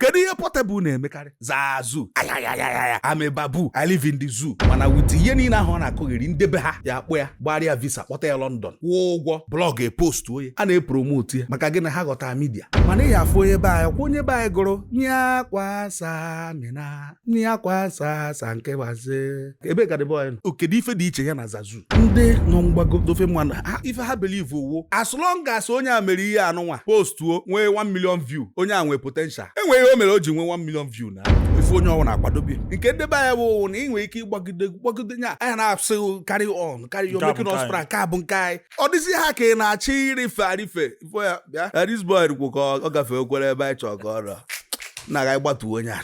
kedu ihe Portable na-emekarị Zazu ayayayaya I'm a baboon i live in the zoo mana with ihe niile ahụ ọ na-akụgheri nde be ha ya akpụ ya gbarịa visa kpọta ya London kwụọ ụgwọ blog epost onye a na-epromotu ya maka gịnị ha ghọta media mana ị ya afụ onye be anyị ọ kwa onye be anyị gụrụ nye akwa samina nne ya kwa asa asa nke waze ebe ka dịbọ ya nọ kedu ife dị iche ya na zazu ndị nọ mgbago nde ofe mmanụ ha ife ha believe wụ as long as onye a mere ihe anụnwa postuo nwee 1 million view onye a nwee potential e nwere ihe o mere o ji nwee 1 million view na ife onye ọwụna akwadobe nke nde be anyị bụ na ị nwere ike ịgbagide gbagide nya ha na-asị gị carry on carry on you're making us proud nke a bụ nke anyị ọ dịzi ha ka ị na-achọ ịrịfe arịfe ị fụ ya bịa this boy rikwu ka ọ gafee okwere ebe anyị chọọ ka o ruo na ga gbatuo onye a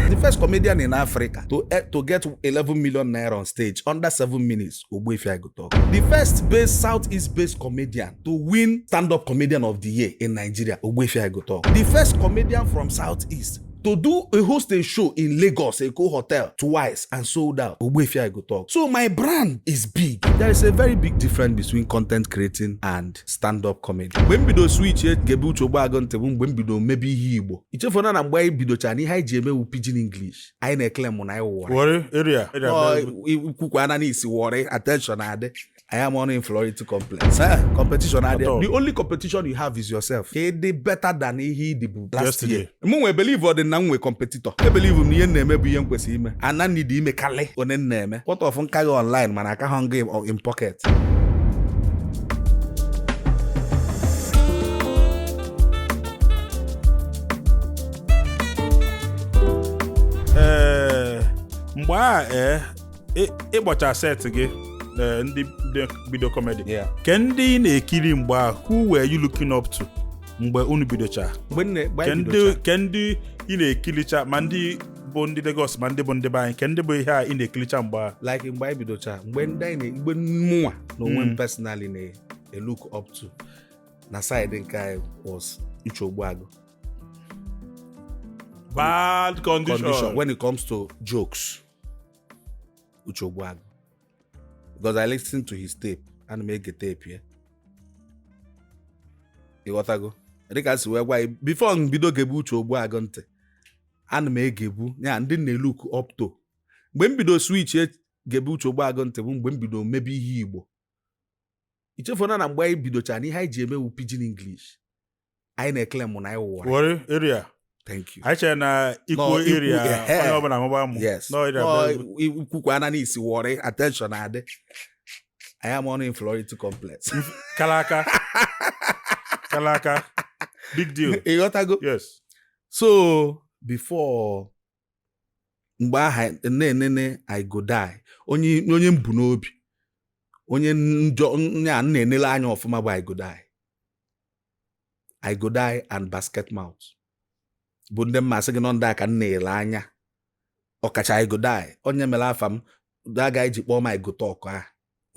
the first comedian in Africa to, eh, to get 11 million naira on stage under 7 minutes Ogbuefi I Go Tuk the first based southeast based comedian to win stand-up comedian of the year in Nigeria Ogbuefi I Go Tuk the first comedian from southeast to do a host a show in Lagos, Eko Hotel twice and sold out. Ogbuefi I Go Tuk. So my brand is big. There is a very big difference between content creating and stand-up comedy. Mgbe m bido switchie gebe Uche Ogbuagụ ntị bụ mgbe m bido mebe ihe Igbo. Ichefuna na mgbe anyị bidochara na ihe anyị ji eme wụ pidgin English. Anyị na-eclaimu na anyị wụ Warri. Warri area. Kwukwa na i si Warri attention adị. Anyị nwe inferiority complex. Eh, competition adị. The only competition you have is yourself. Ka dị better than ihe ị dịbu last year. Mụnwa ebelieverọdị na m nwe competitor. Ebelieve m na ihe m na-eme bụ ihe m kwesịrị ime. Ana m need ime karị one m na-eme. What of m ka gị online mana akahụ m gị in pocket. Ee, eh, mgbe a ee eh, ị- ịgbacha set gị eh, ndị ndị bido comedy Yeah. ke ndị ị na-ekiri mgbe ahụ who were you looking up to mgbe unu bidocha mgbe nne mgbe ke anyị ndị bidocha ke ndị ị na-ekiricha ma ndị bụ ndị Lagos ma ndị bụ ndị be anyị ke ndị bụ ihe a ị na-ekiricha mgbe ahụ like mgbe anyị bidocha mgbe ndị anyị na- mgbe mụnwa na onwe Mm. m personally na-elook up to na side nke anyị was Uche Ogbuagụ bad condition, condition when it comes to jokes Uche Ogbuagụ because I listen to his tape ana m ege tape ya ịghọtago dịka si wee gwa ya before m bido gebe Uche Ogbuagụ ntị ana m egebu ya ndị na-elook up to mgbe m bido switchie gebe Uche Ogbuagụ ntị bụ mgbe m bido mebe ihe Igbo ichefuna na mgbe anyị bidochara na ihe anyị ji eme wụ pidgin English anyị na-ekele mụ na anyị wụwara Warri area thank you anyị chere na ikwu Nọ, ikwu, area ehe. onye ọbụla mụba amụ yes Nọ area Nọ, bụ- i- ikwukwana na i si Warri attention adị anyị ama ọnụ inferiority complex kala aka kala aka big deal ịghọtago yes so before mgbe aha na-enene i go die onye onye m bu n'obi onye njọ onye a na-enele anya ọfụma bụ i go die i go die and basket mouth bụ ndị m ma-asị gị n'ọ ndị a ka m na-ele anya ọkacha i go die onye mere afa m aga iji kpọọ m i go talk a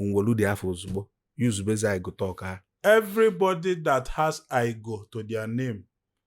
nwolu dị afa ọzọ gboo yuzubezi i go talk a everybody that has i go to their name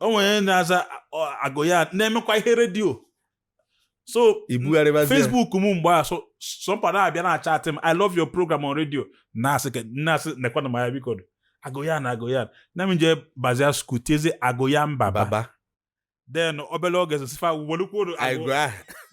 o nwere onye na-aza I go yan na-emekwa ihe radio so Facebook m mgbe a somebody abịa na-achatị m I love your program on radio na-asị na-asị nekwana m ya biko I go yan a I go yan a m je bazia school tiezi I go yan baba then obele ogezi sị fa welukwuru I go ahụ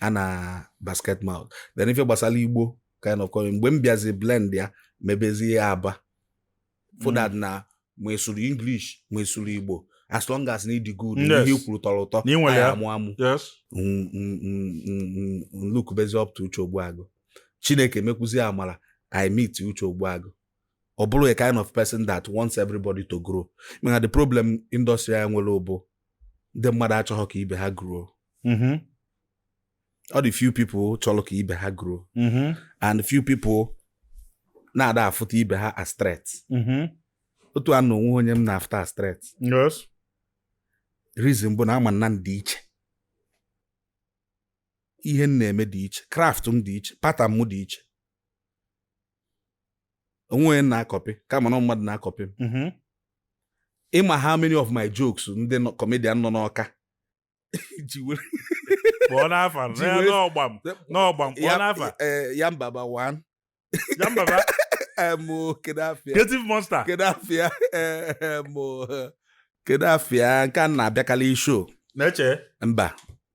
a na basket mouth then ife gbasara Igbo kind of comedy mgbe m bịazi blend ya mebezie ya aba for that mm. na ma ị sụrụ English ma ị sụrụ Igbo as long as na ị dị good ihe i kwuru tọrọ ụtọ anyị amụa amụ m lukubezi up to Uche Ogbuagụ Chineke mekwuzi amara I meet Uche Ogbuagụ ọ bụrụ a kind of person that wants everybody to grow mana the problem industry anyị nwere bụ ndị mmadụ achọhọ ka ibe ha grow mm-hmm. ọ dị few people chọrọ ka ibe ha grow mm-hmm. and few people na-ada afụta ibe ha as threat mm-hmm. otu a m nọ onwe onye m na-afụta as threat reason bụ na ama m na m dị iche ihe m na-eme dị iche craft m dị iche pattern m dị iche onwe onye m na-akọpị kama na mmadụ na-akọpị m mm-hmm. ịma how many of my jokes ndị comedian nọ n'Ọka ji were kpọọ n'afa n'ọgbam n'ọgbam kpọọ n'afa Yanbaba one Yanbaba mo kedu afịa creative monster kedu afịa mo kedu afịa nke a na-abịakarị show na-eche mba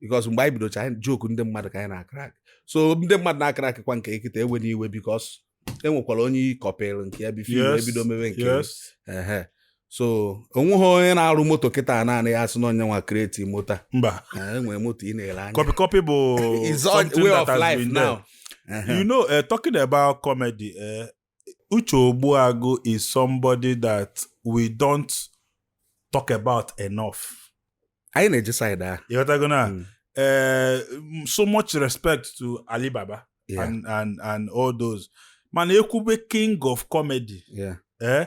because mgbe anyị bidocha joke ndị mmadụ ka anyị na-akrak so ndị mmadụ na-akrak kwa nke m kịta ewena iwe because e nwekwara onye ị kọpịrị nke ya before Yes, ebido mebe nke ya. yes. Ehe. so onweghị onye na-arụ moto kịta naanị ya asị na ya nwa kreti moto mba Eh, enwere moto ị na-ele anya copy copy bụ It's all something way that of has life been there. now. Ehe. you know uh, talking about comedy uh, Uche Ogbuagu is somebody that we don't talk about enough. Anyị na-eje side ahụ. Ịghọtago na hmm. eh, so much respect to Ali Baba yeah. and, and, and all those. Mana ekwube king of comedy. Yeah. Eh?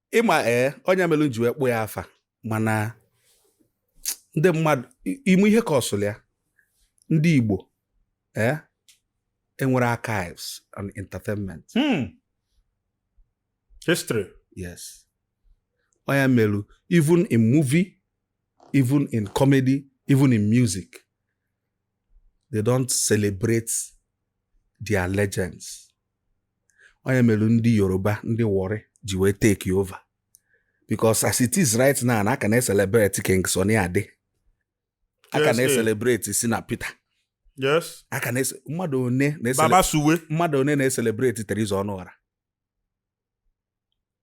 ịma ee eh, ọ nya mere m ji wee kpọ ya afa mana ndị mmadụ ime ihe ka ọsụlụ ya ndị Igbo ee eh, enwero archives and entertainment hmm. history yes ọ nya mere even in movie even in comedy even in music they don't celebrate their legends ọ nya mere ndị Yoruba ndị Warri ji wee take over because as it is right now na a ka na-eselebrate King Sunny Ade a ka Yes, eh. na-eselebrate Shina Peter yes a ka na mmadụ one na-esele Baba Suwe mmadụ one na-eselebrate Teresa Ọnụọra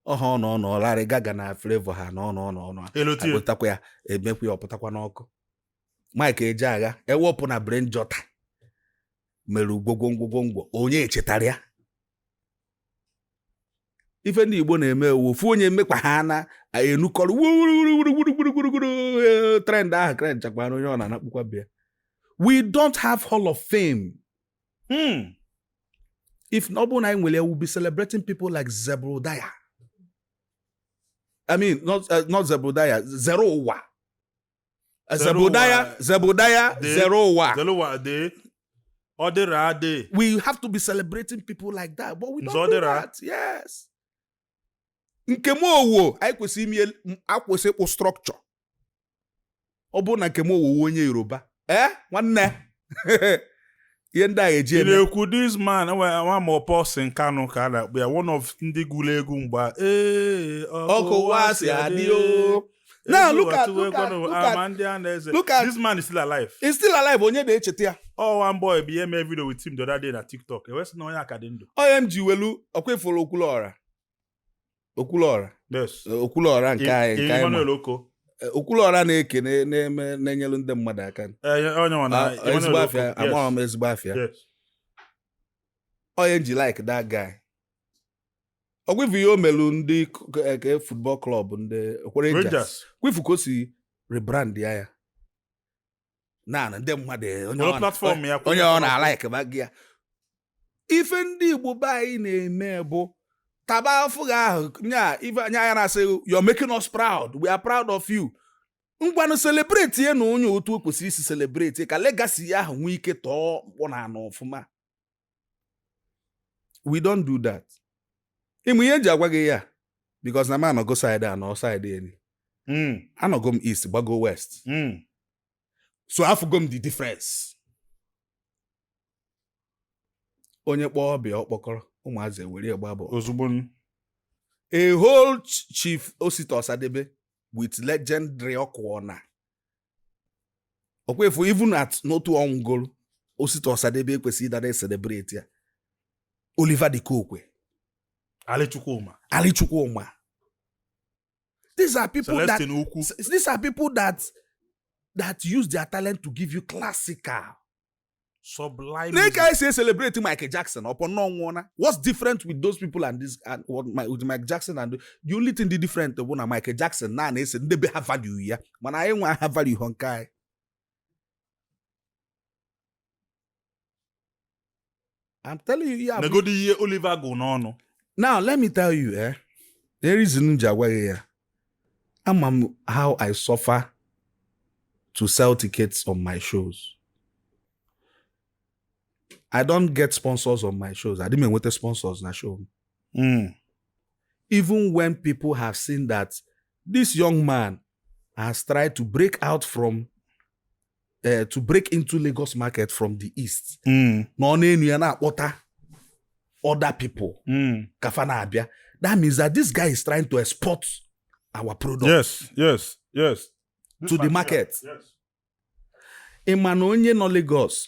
ọha ọ nọ nọ Larry Gaga na Flavour ha na ọnụ ọnụ ọnụ elote akpọtakwa ya emekwa ya ọpụtakwa n'ọkụ Mike Ejeagha ewepụ na Brain Jotter mere gwogwongwogwongwo onye echetara ya ife ndị Igbo na-eme wụ ofu onye mekwa ha a na-enukọrọ wuruwuruwuruwuruwuruwuru trend ahụ trend chakwana onye ọ na anakpukwa be ya we don't have hall of fame hmm. if ọ bụrụ na anyị nwere ya we'll be celebrating people like Zebrudaya I mean not, uh, not Zebrudaya Zeruwa Zebrudaya, Zebrudaya, Zeruwa. Zeruwa Ade. Odera Ade. We have to be celebrating people like that, but we don't Zodera. do that. Yes. Nkem Owoh, anyị kwesịrị ime ekwesị ịkpụ structure. Ọ bụrụ na Nkem Owoh wụ onye Yoruba, ee eh, nwanne ihe ndị a eji eme ekwu this man nwa ma Paulson Kalu ka a na-akpọ ya one of ndị gụrụ egwu mgbe ee otu ụwa si adị o now look at look at look at look at this man is still alive he's still alive onye na-echeta ya ọ one boy bịa mee video with him the other day na TikTok e wee sị na onye a ka dị ndụ ọ m ji welu ọkwa ị furu Okwuluọra okwuluọra okwuluọra nke anyị nke anyị eh, okwuluọra na-ekene na-enyelu ndị mmadụ aka eh, ah, ezigbo afịa amaghị m ezigbo afịa ọ nya m ji like that guy ọkwa ị fụ ihe o melu ndị eke eh, football club ndị ọkwa Rangers ọkwa ị fụ ka o si rebrand ya ya na ndị mmadụ eh, onye Were ọ na- platform ya kwụnye onye ọ platform. na alikebago ya ife ndị igbo be anyị na-eme bụ taba afụ gị ahụ nya ife anya ya na-asị you're making us proud we are proud of you ngwanụ celebrate ya na onye otu o kwesịrị isi celebrate ya ka legacy ya ahụ nwee ike tọọ mkpọ n'ana ọfụma we don't do that ị ma ihe eji agwa gị ya because na m anọgo side a nọ side eni hmm. anọgo m east gbago west hmm. so afụgo m the difference onye kpọọ ọbịa ọ kpọkọrọ ụmụazị ewere gba bụ ozugbo a whole chief Osita Osadebe with legendary ọkụọna ọkwa efu even at n'otu ọ nwụgolu Osita Osadebe ekwesị ịdị na-e celebrate ya Oliver de Coque Ali Chukwuma Ali Chukwuma these are people that these are people that that use their talent to give you classical sublime nee ka anyị si e celebrate Michael Jackson upon na ọ nwụọna what's different with those people and this and what my, with Michael Jackson and the only thing dị different bụ na Michael Jackson na na-ese ndị be ha value ya mana anyị nwa a valuehọ nke anyị I'm telling you ya negodo ihe Oliver gụ n'ọnụ now let me tell you eh the reason m ji agwaghị ya ama m how I suffer to sell tickets on my shows I don't get sponsors on my shows adị m enweta sponsors na show m hmm. even when people have seen that this young man has tried to break out from eh, to break into Lagos market from the east mm. na ọ na-enu ya na-akpọta other people mm. ka fa na-abịa that means that this guy is trying to export our product yes yes yes to the market ị ma na onye nọ Lagos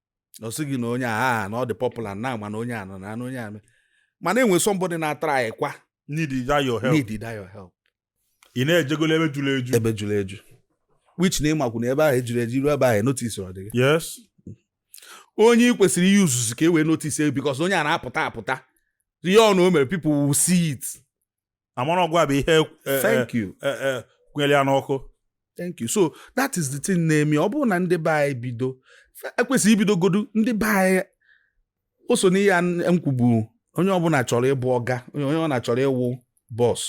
ọ sị gị na onye a na ọ dị popular na mana onye a nọ na onye a mana enwe somebody na-atry kwa need your help need your help ị na-ejegolo ebe juru eju ebe juru eju which na ị makwu na ebe ahụ ejuru eju i ru ebe ahụ notice ọ dịghị yes onye ị kwesịrị ị use ka e wee notice because onye a na-apụta apụta ihe ọbụna o mere people will see it a mara na ọ gịwa bụ ihe e, e, thank you e, kwere ya n'ọkụ thank you so that is the thing na-eme ọ bụrụ na ndị be anyị bido ekwesị ibidogodu ndị be anyị o so n'ihe m kwubu onye ọbụla chọrọ ịbụ ọga onye ọbụla chọrọ ịwụ boss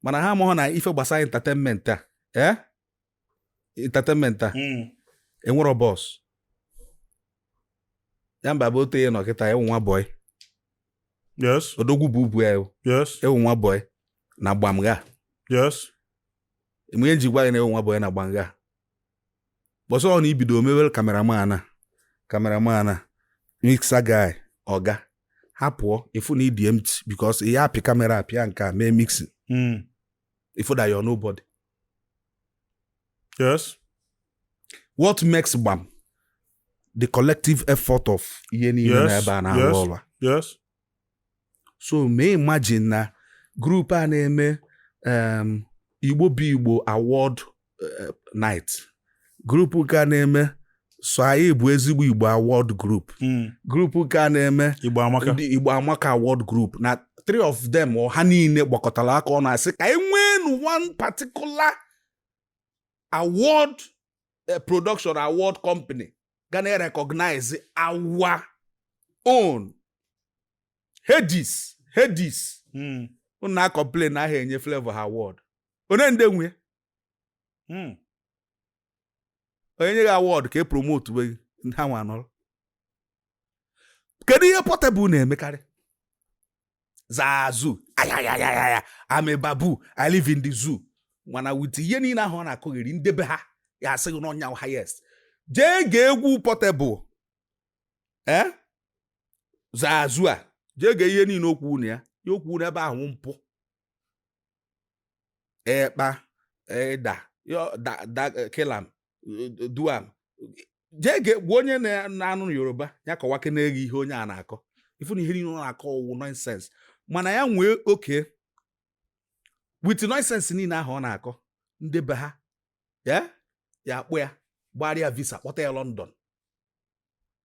mana ha amahọ na ife gbasara entertainment a ee eh? entertainment a mm. enwero boss ya mba bụ otu ihe nọ kịta ị wụ nwa boy yes odogwu bubu a yes ị wụ nwa boy na gbamga yes ị ma ihe m ji gwa gị na ị wụ nwa boy na gbamga bọsọ ọ na i bido mewere cameraman a cameraman a mixer guy ọga ha pụọ ị fụ na ị dị empty because ị ya-apị camera pịa nke a mee mixing ị fụ that hmm. you're nobody Yes. What makes gbam? The collective effort of ihe niile Yes, na ebe a na-arụ yes. ọrụ a. Yes. so mee imagine na group a na-eme um, Igbo bụ Igbo award uh, night group nke a na-eme so anyị bụ Ezigbo Igbo award group hmm. group nke a na-eme Igbo Amaka award group na three of them ha niile gbakọtara aka ọnụ asị ka e nwee one particular award eh, production award company ga na-erecognize our own Headies Headies hmm. unu na-acomplain na ha enye Flavour ha award onye nde nwe hmm. onye nye gị award ka e promote we ha nwa anọrọ kedu ihe Portable na-emekarị Zazu ayayayaya I'm a baboon I live in the zoo mana with ihe niile ahụ ọ na-akọgheri nde be ha ya asị gị na ọ ya highest jee gee egwu Portable ee eh? Zazu a jee gee ihe niile o kwu na ya ya o kwu n'ebe ahụ wụ mpụ ekpa eda kilam duam jee gwa onye na-anụ Yoruba ya kọwakene gị ihe onye a na-akọ ị fụ na ihe niile ọ na-akọ wụ nonsense mana ya nwee oke with nonsense niile ahụ ọ na-akọ ndị be ha ya akpụ ya gbaara ya visa kpọta ya London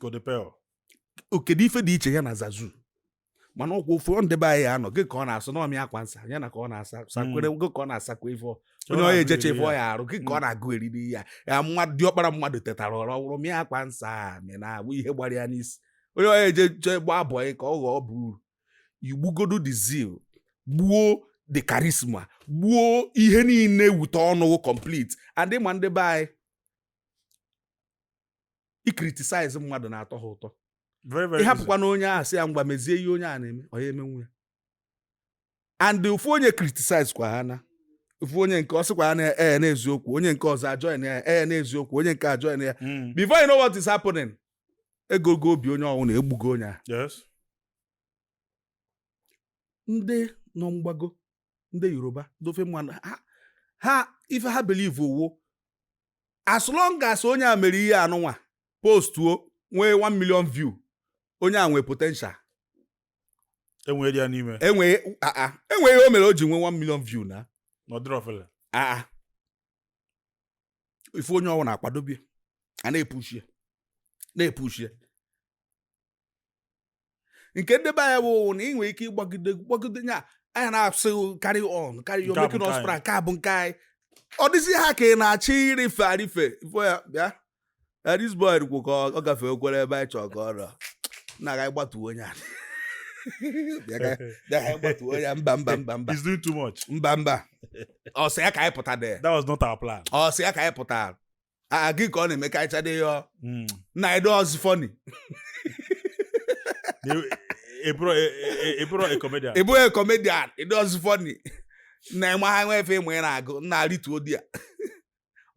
kodepel o kedu ife dị iche ya na Zazu mana ọ kwa ofu ndị be anyị anụghị ka ọ na-asụ n'ọmị akwa nsa ya na ka ọ na-asa hmm. sakwere gị ka ọ na-asakwa ife onye ọ ya eje chọ ife ọ ya arụ gị ka ọ hmm. na-agụ eriri ya ya mmadụ diọkpara mmadụ tetara ụra mịa akwa nsa mị na-abụ ihe gbara ya n'isi onye ọ ya eje chọọ ịgba abụọ ya ka ọ ghọọ bụrụ i gbugodu the zeal gbuo the charisma gbuo ihe niile wute ọnụ complete adị ma ndị be anyị icriticize mmadụ na-atọ ha ụtọ ị hapụkwanụ onye ahụ sị ya ngwa mezie ihe onye a na-eme ọ ya emenwu ya and ofu onye criticize kwa ha na ofu onye nke ọ sịkwa na ee n'eziokwu onye nke ọzọ ajoin ya ee n'eziokwu onye nke ajoin ya hmm. before you know what is happening egogo obi onye ọwụna egbugo onye a ndị nọ mgbago ndị Yoruba ndị ofe mmanụ ha ife ha believe wụ as long as onye a mere ihe anụnwa postuo nwee 1 million view onye a nwee potential e nwere ihe ọ na-eme e nwee ihe o mere o ji nwee 1 million view na ife onye ọwụna akwadobe ya a na-epush ya na-epush ya nke ndị be anyị bụ na ị nwere ike ịgbagide gbagide nya anya na-asị carry on carry on making us proud nke a bụ nke anyị ọ dịzi ha ka ị na-achọ irife arife ifo ya bịa this boy kwu ka ọ gafee okwere ebe anyị chọọ ka ọ rọ na a ga gbatuo onye a ya mba mba mba mba he's doing too much mba mba ọ sị ya ka anyị pụta there that was not our plan ọ sị ya ka anyị pụta a gị ka ọ na-eme ka ịchadị ya ọ- Mm. na ị dịrọzi funny Na- ị bụrụ ị- ị- ị bụrọ a comedian ị bụghị comedian ị dịrọzi funny na ịma ha nwe efe ịma ị na-agụ nna arịtuo di ya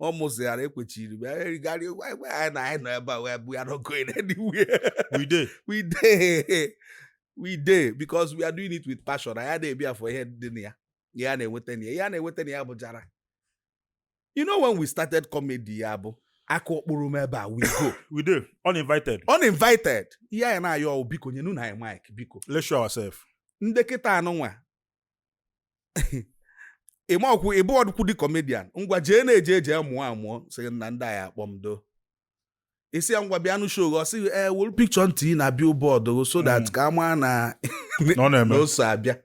ọ mụsịghara ekwechiri m erigharị anyị na anyị nọ ebe a we are not going anywhere we dey we dey we dey because we are doing it with passion anyị ada abịa for ihe dị na ya ihe a na-enweta na ya ihe a na-enweta na ya bụ jara you know when we started comedy ya bụ aka ọkpụrụ m ebe a we go we dey uninvited uninvited ihe anyị na-ayọ ọ wụ biko nye nunu anyị mic biko let's show ourselves ndị kịta anụnwa ịma ọkwụ ị bụ Odogwu the comedian ngwa jee na-eje eje mụọ amụọ sị na ndị anyị akpọ m do isi ya ngwa bịanụ show ọ sị gị ee wolu picture m tinye na billboard so that mm. ka a maa na ọ so abịa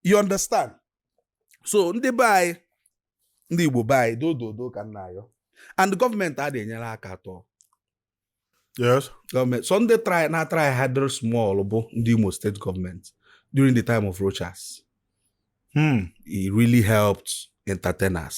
you understand so ndị be anyị ndị Igbo be anyị dododo ka m na-ayọ and gọọmenti adịghị enyere aka at all yes gọọmenti sọ ndị try na try harder small bụ ndị Imo State government during the time of Rochas hmm. it really helped entertainers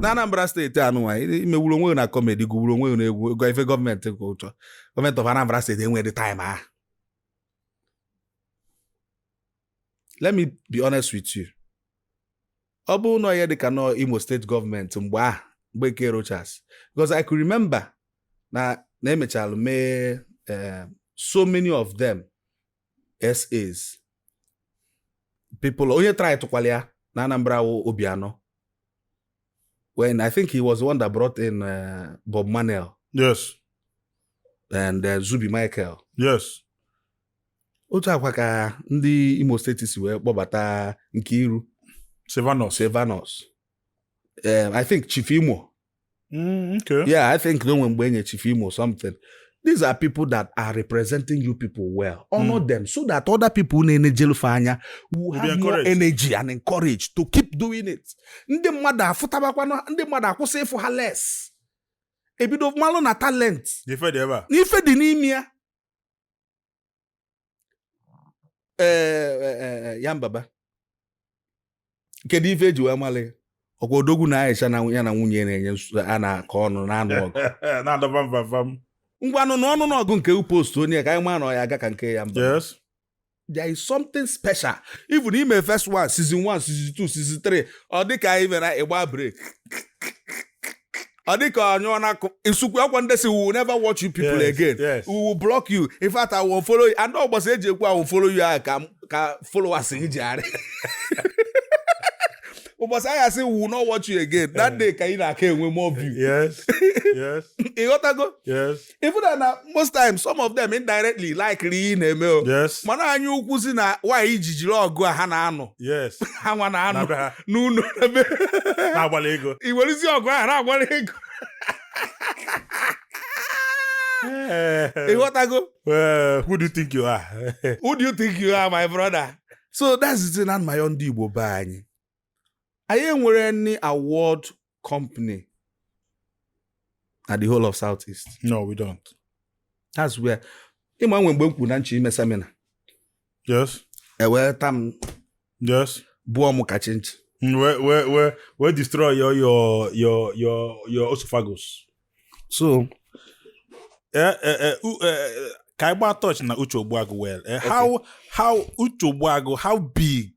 na Anambra State anụnwa i mewuru onwe na comedy gụwuru onwe na egwu ego ife gọọmenti ka ị chọ government of Anambra State enweghị time ahụ let me be honest with you ọ bụrụ na ọ ya-adị ka na Imo State government mgbe ahụ mgbe nke Rochas because I could remember na na e mechalụ mee eh, so many of them SAs people onye try tụkwalụ ya na Anambra wụ Obiano when I think he was the one that brought in uh, Bob Manuel yes and uh, Zubi Michael yes otu a kwa ka ndị Imo State si wee kpọbata Nkiru Sylvanus Sylvanus um, I think Chief Imo Mm, okay. Yeah, I think na o nwe mgbe e nye Chief Imo something. These are people that are representing you people well. Honor mm. them so that other people na-enejelụ fa anya will have more energy and encourage to keep doing it. Ndị mmadụ afụtabakwana ndị mmadụ akwụsị ịfụ ha less. Ebido malụ na talent. N'ife dị ebe a. N'ife dị n'ime ya. ee e, e, e, Yanbaba kedu ife eji wee mali ọkwa odogwu na aisha na ya na nwunye na-enye a na-akọ ọnụ na-anụ ọgụ na-adọba mvamva m ngwanụ na ọnụ n'ọgụ nke upost onye ka anyị maa na ọ ya aga ka nke Yanbaba yes there is something special even ime first one season one season two season three ọ dị ka anyị mere ịgba break ọ dị ka anyụọ na akụ nsukwu akwa nde sị we will never watch you people Yes, again yes. we will block you in fact unfollow you and ụbọsị eji ekwu unfollow you ahụ ka ka followers gị ji arị ụbọchị a ya-asị we will not watch you again that day ka ị na-aka enwe more view Yes. Yes. ịghọtago Yes. even though na most times some of them indirectly likeri ihe ị na-eme o yes mana anya ukwu sị na why i ji jiri ọgụ a ha na-anụ yes ha nwa na-anụ na be ha n'ụlọ na be na-agbala ego i werezi ọgụ ahụ na-agbala ego Eh, ịghọtago eh, who do you think you are who do you think you are my brother so that's the thing na my own ndị igbo be anyị anyị enwere any award company na the whole of south east no we don't that's where ịma nwe mgbe m kwuru na m chọ ime seminar yes ewee tam yes gbuo m ka chinchi Mm, wee wee wee wee destroy your your your your your esophagus. So, eh, eh, eh, uh, eh, ka ịgba touch na Uche Ogbuagu well. Eh, how how Uche Ogbuagu how big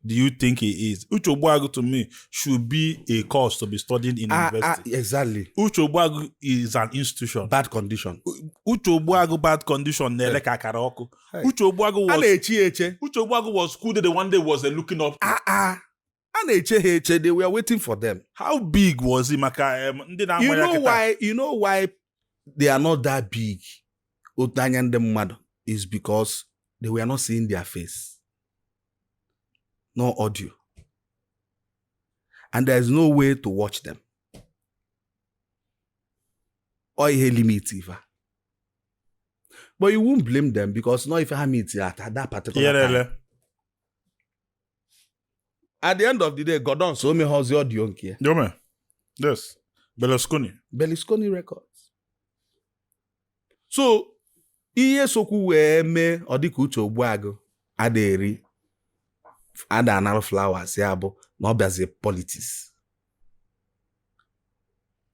do you think he is? Uche Ogbuagu to me should be a course to be studied in ah, ah university. Ah, exactly. Uche Ogbuagu is an institution. Bad condition. Uche Ogbuagu bad condition na-ele ka akara ọkụ. Uche Ogbuagu was. A na-echi eche. Uche Ogbuagu was school the one day was uh, looking up. Ah ah. A na-eche ha eche they were waiting for them. How big was he maka um, ndị na-agba ya kịta? You know why you know why they are not that big otu anya ndị mmadụ is because they were not seeing their face no audio and there is no way to watch them ọ ihe limit ife but you won't blame them because no ife ha meet at that particular time. at the end of the day Gordons o mekwazi audio nke ya Yome. Yes. Berlusconi. Berlusconi Records so ihe sokwu wee mee ọ dịka uche ogbuagụ ada eri ada anara flowers ya bụ na ọ bịazi politics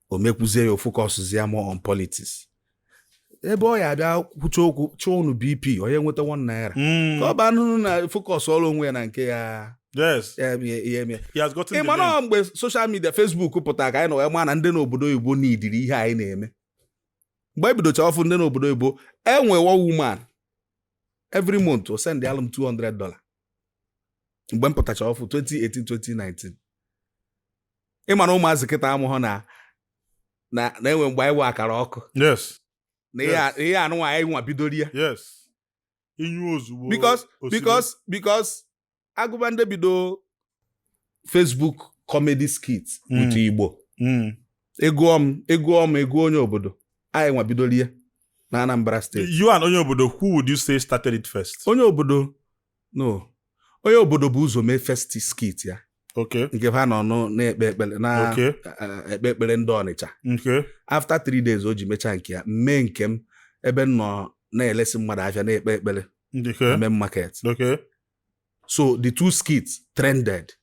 o mekwuzie ya ọ focusụzie more on politics ebe ọ ya abịa kwucha okwu chọọ unu bp onye nweta one naira hmm. ka ọ baa n'ụnọ na focus ọrụ onwe ya na nke ya ị ma na mgbe social media Facebook pụtara ka anyị nọ wee ma na ndị n'obodo oyibo na-ekiri ihe anyị na-eme mgbe ebidocha ọfụ ndị n'obodo oyibo enwe one woman every month o sendalụ m 200 dollar mgbe m pụtacha ọfụ 2018 2019 ịma na ụmụazị kịta amahụ na na enwe mgbe anyị wụ akara ọkụ na ihe anụnwa anyị nwa bidoro ya inyu ozugbo because because because a gụba ndị bido Facebook comedy skit mm. with Igbo mm. egụọ m egụọ m egụọ onye obodo anyị nwa bidoro ya na Anambra State you and onye obodo who would you say started it first onye obodo no onye obodo bụ ụzọ mee first skit ya nke fa nọ na-ekpe ekpere na-ekpe eh, eh, ekpele ndị Ọnịcha after three days o ji mechaa nke ya mee nke m ebe m nọ na-elesi mmadụ afịa na-ekpe ekpele Main Market so the two skits trended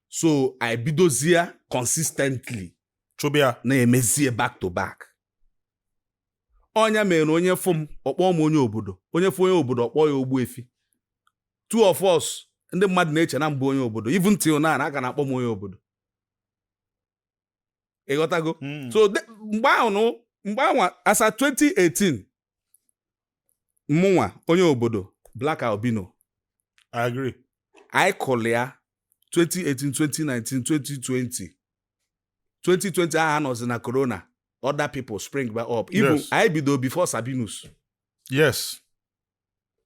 so anyị bidozie consistently chụba ya na-emezie back to back ọ nya mere onye fụ m ọ kpọọ m onye obodo onye fụ onye obodo ọ kpọọ ya Ogbuefi two of us ndị mmadụ na-eche na m bụ onye obodo even till now a ka na-akpọ m onye obodo ịghọtago hmm. so mgbe ahụ mgbe anwa as at 2018 mụnwa onye obodo Black Albino I agree anyị kụlụ ya 2018 2019 2020 2020 ahụ a nọzi na corona other people spring back up even anyị bido before Sabinus yes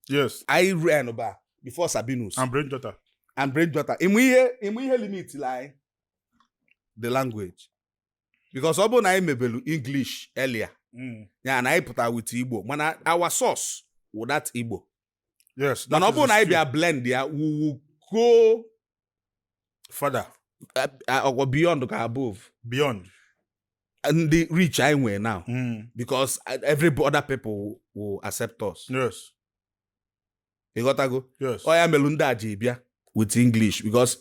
yes anyị ran ba before Sabinus and Brain Jotter and Brain Jotter ịma ihe ịma ihe limitili anyị the language because ọ bụrụ na anyị mebelu English earlier mm. ya na anyị pụta with Igbo mana our source wụ that Igbo yes mana ọ bụrụ na anyị bịa blend ya we will go further or go uh, uh, beyond ka above beyond the reach anyị nwe now mm. because every other people will accept us yes ịghọtago ọ ya melụ ndị a ji bịa with English because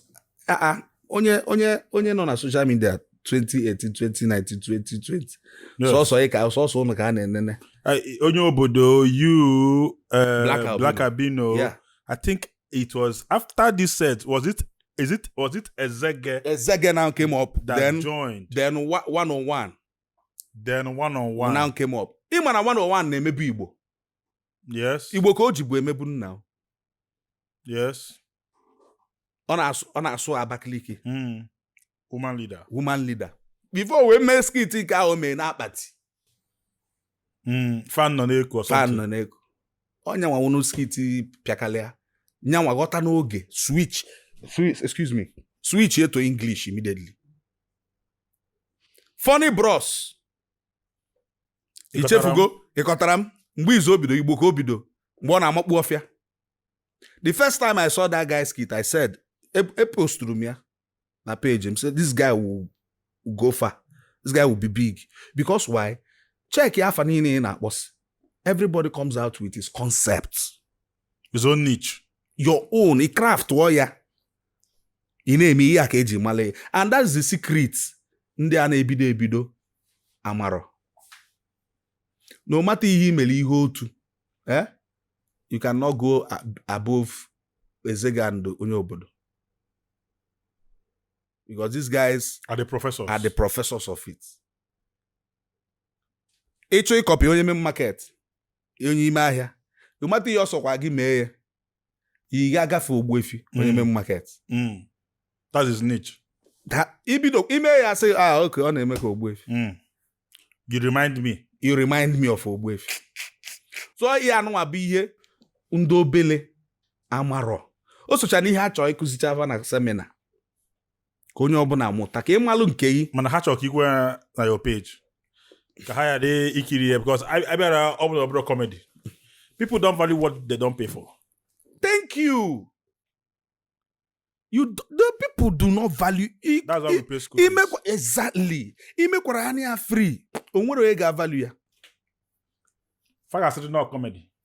ah, ah, onye onye onye nọ na social media 2018 2019 2020 sọsọ ị ka sọsọ ụnụ ka a na-enene onye obodo you eh, Black Albino I think it was after this set was it is it was it Ezege Ezege now came up that then joined then one on one then one on one now came up ịma na one on one na-emebu Igbo yes igbo ka o jibu emebu nna o. yes ọ na-asụ ọ na-asụ abakaliki mm. woman leader woman leader before wee mee skit nke ahụ o mee n'akpati mm. fa nọ na-eku or so fa nọ na-eku onye anwa nwụrụ skit pịakalịa nyanwa ghọta n'oge switch switch excuse me switchie to English immediately Funny Bros ichefugo ịkọtara m mgbe izu o bido Igbo ka o bido mgbe ọ na-amakpu ọfịa the first time i saw that guy skit i said eposturu m ya na page m say this guy will go far this guy will be big because why check ya afa niine ị na-akpọsi everybody comes out with his concept his own niche your own craft ọ ya ị na-eme ihe a ka eji mara ya and that's the secret ndị a na-ebido ebido amarọ no matter ihe i mere ihe otu eh you cannot go above ezega and onye obodo because these guys are the professors are the professors of it ị chọọ ịkọpị onye main market onye ime ahịa no matter ihe ọ sọkwa gị mee ya ị ga-agafe ogbuefi onye main market Mm. That's his niche. Da- i bido ime ya sị ah okay ọ na-eme ka ogbuefi Mm. You remind me. you remind me of ogbuefi so ihe anụnwa bụ ihe ndị obele amarọ o socha na ihe a chọrọ ịkụzichaa fa na seminar ka onye ọbụla mụta ka ị malụ nke gị mana ha chọrọ ka ikwe ya na your page ka ha ya dị ikiri ya because I I bịara ọ bụla ọbụla comedy people don't value what they don't pay for thank you you do- the people do not value i- that's why we i- pay school fees. imekwa exactly imekwara ha nya free o nwerọ onye ga-avalue ya fa ga-asịrị na ọ comedy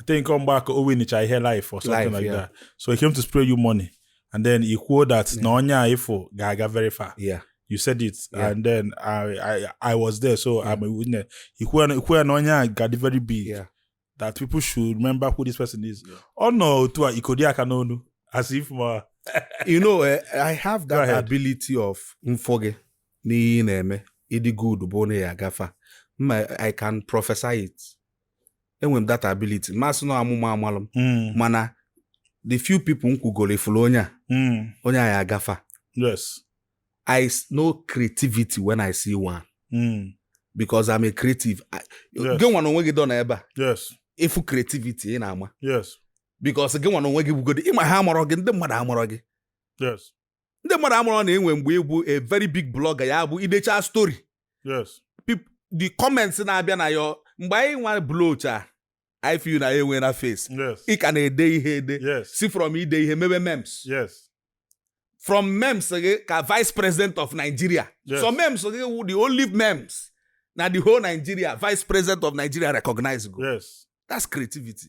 I think ọ mgbe a ka o winicha ihe life or something Life, like yeah. that so he came to spray you money and then i kwuo that na onye a ị fụ ga-aga very far Yeah. you said it Yeah. and then I, I I was there so I'm a witness i kwuo na- i kwuo na onye a ga-adị very big Yeah. that people should remember who this person is ọ nọ otu a ikodi aka n'ọnụ as if ma you know, eh, I have Go that ahead. ability of m fụ gị n'ihe ị na-eme ị dị good bụ onye ya-aga far. Ma I can prophesy it. enwere m that ability m ma-asị na amụma amalụ m mana the few people m kwugoro ị fụrụ onye a onye a ya-aga far yes i know creativity when i see one because i'm a creative gị nwa na onwe gị dụ na ebe a yes ị fụ creativity ị na-ama yes because gị nwa na onwe gị bụgodị ị ma ha amarọ gị ndị mmadụ amarọ gị yes ndị mmadụ amarọ na e nwe mgbe ị bụ a very big blogger ya bụ i dechaa story the comments na-abịa na ya mgbe anyị nwa blowcha I feel na ya enwe na face ị ka na-ede ihe ede si from ide ihe mebe memes from memes gị ka vice president of Nigeria so memes gị wụ the only memes na the whole Nigeria vice president of Nigeria recognizego that's creativity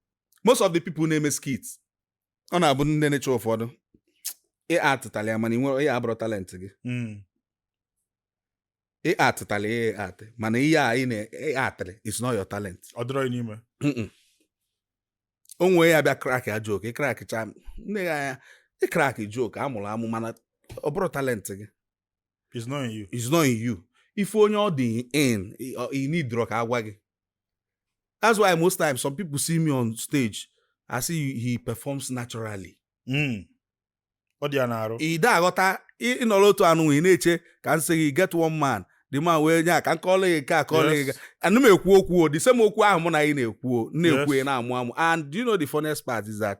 most of the people na-eme skit ọ na-abụdị na nature ụfọdụ ị actala ya mana ihe a abụrọ talent gị Mm. ị actala ya ị act mana ihe a ị na-act is not your talent ọ dịrọ ya n'ime Mm-mm. o nwee ya bịa crack ya joke ị crackcha m nee ya anya ị crack joke a mụrụ amụ mana ọ bụrọ talent gị It's not in you. is not in you ị fụ onye ọ dị in i- ọ- i needrọ ka agwa gị that's why most times some people see me on stage a sị he performs naturally Mm. Ọ dị ya n'arụ. ị da aghọta ị- ịnọrọ otu anụ ị na-eche ka m sị gị get one man the man wee nye a ka m kọọrọ gị nke a kọọrọ gị Yes. nke a. ana m ekwu okwu o the same okwu ahụ mụ na gị na-ekwu o m na-ekwu Yes. ya na-amụ amụ and do you know the funniest part is that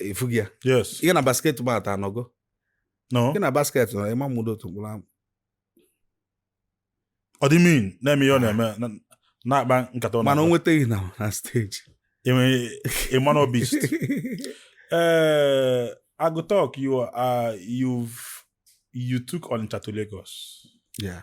ị fụgo ya yes gị na Basketmouth anọgo no gị na basket nọ ị ma amụdo otu mkpụrụ amụ ọ dị mean na-eme ihe ọ na-eme na- na-akpa nkata ọ mana o na-akpa. nweta gị na na stage Eme- ịma na ọ beast Eh, I Go Tuk, you are you've you took Onitsha to Lagos. ya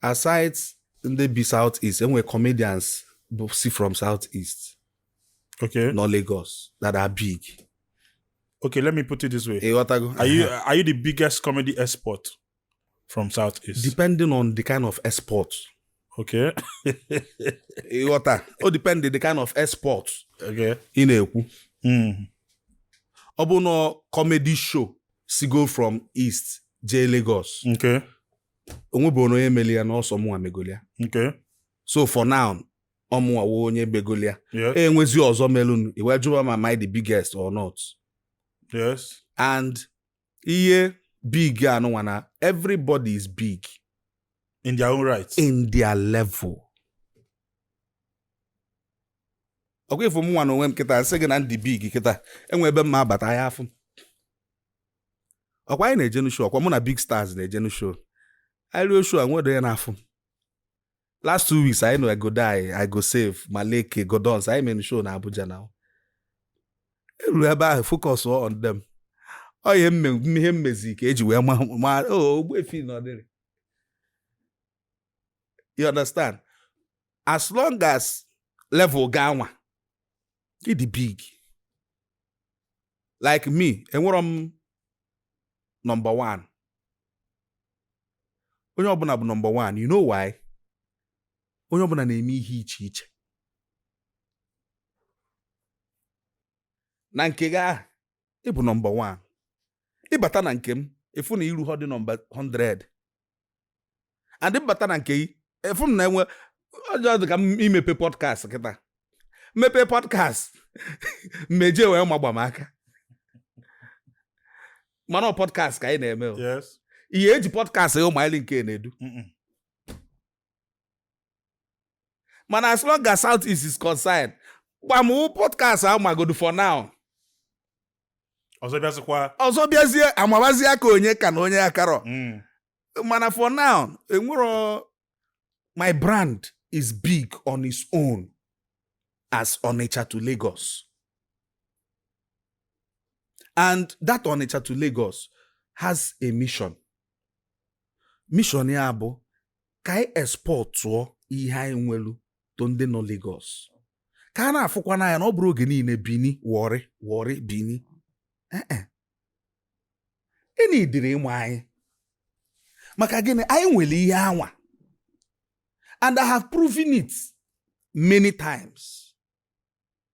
aside ndị bi south east enwere comedians bụ si from south east okay nọ lagos that are big okay let me put it this way ịghọtago are you are you the biggest comedy export from south east depending on the kind of export okay ịghọta o depend the kind of export okay ị na-ekwu mm. ọ bụ na comedy show si go from east jee lagos okay o nweburọ onye meli ya na ọ sọ mụnwa megolia Okay. so for now ọmụnwa wụ onye megolia Yes. enwezi ọzọ melụnụ e wee jụba ma am I the biggest or not Yes. and ihe big anụnwa na everybody is big In their own right. in their level ọkwa ị fụ mụnwa na onwe m kịta m sị gị na m dị big kịta enwe ebe m ma-abata ha afụ m. ọkwa anyị na-ejenu show ọkwa mụ na big stars na-ejenu show anyị ruo show enwedị onye na-afụ m last two weeks anyị na I Go Dye I Go Save Maleke Gordons anyị mere show na abuja na eruru ebe ahụ focus on them ọ ihe ihe m mezi ka eji wee ma oh, Ogbuefi nọ there you understand as long as level gị anwa ịdị big like me enwerọ m nọmba one onye ọbụla bụ nọmba one you know why onye ọbụla na-eme ihe iche iche na nke gị ahụ ịbụ nọmba one ịbata na nke m ịfụ na i ruhọdị nọmba 100 and m bata na nke gị efuo m na-enwe just dị ka m mepe podcast kịta m mepe podcast mmeje wee ma Gbam aka mana ọ podcast ka anyị na-eme o. Yes. ihe eji podcast ya ụmụanyị nke na-edu Mm-mm. mana as long as south east is concerned Gbam wụ podcast ahụ magodu for now ọzọ bịazikwa ọzọ bịazie amabazie aka onye ka na onye akarọ mm. mana for now enwero my brand is big on its own as Onitsha to Lagos and that Onitsha to Lagos has a mission mission ya bụ ka anyị exportụọ ihe anyị nwelu to ndị nọ Lagos ka a na-afụkwanụ anyị na ọ bụrọ oge niile Benin Warri Warri Benin ịna idiri ịmụ anyị maka gịnị anyị nwere ihe anwa and I have proven it many times.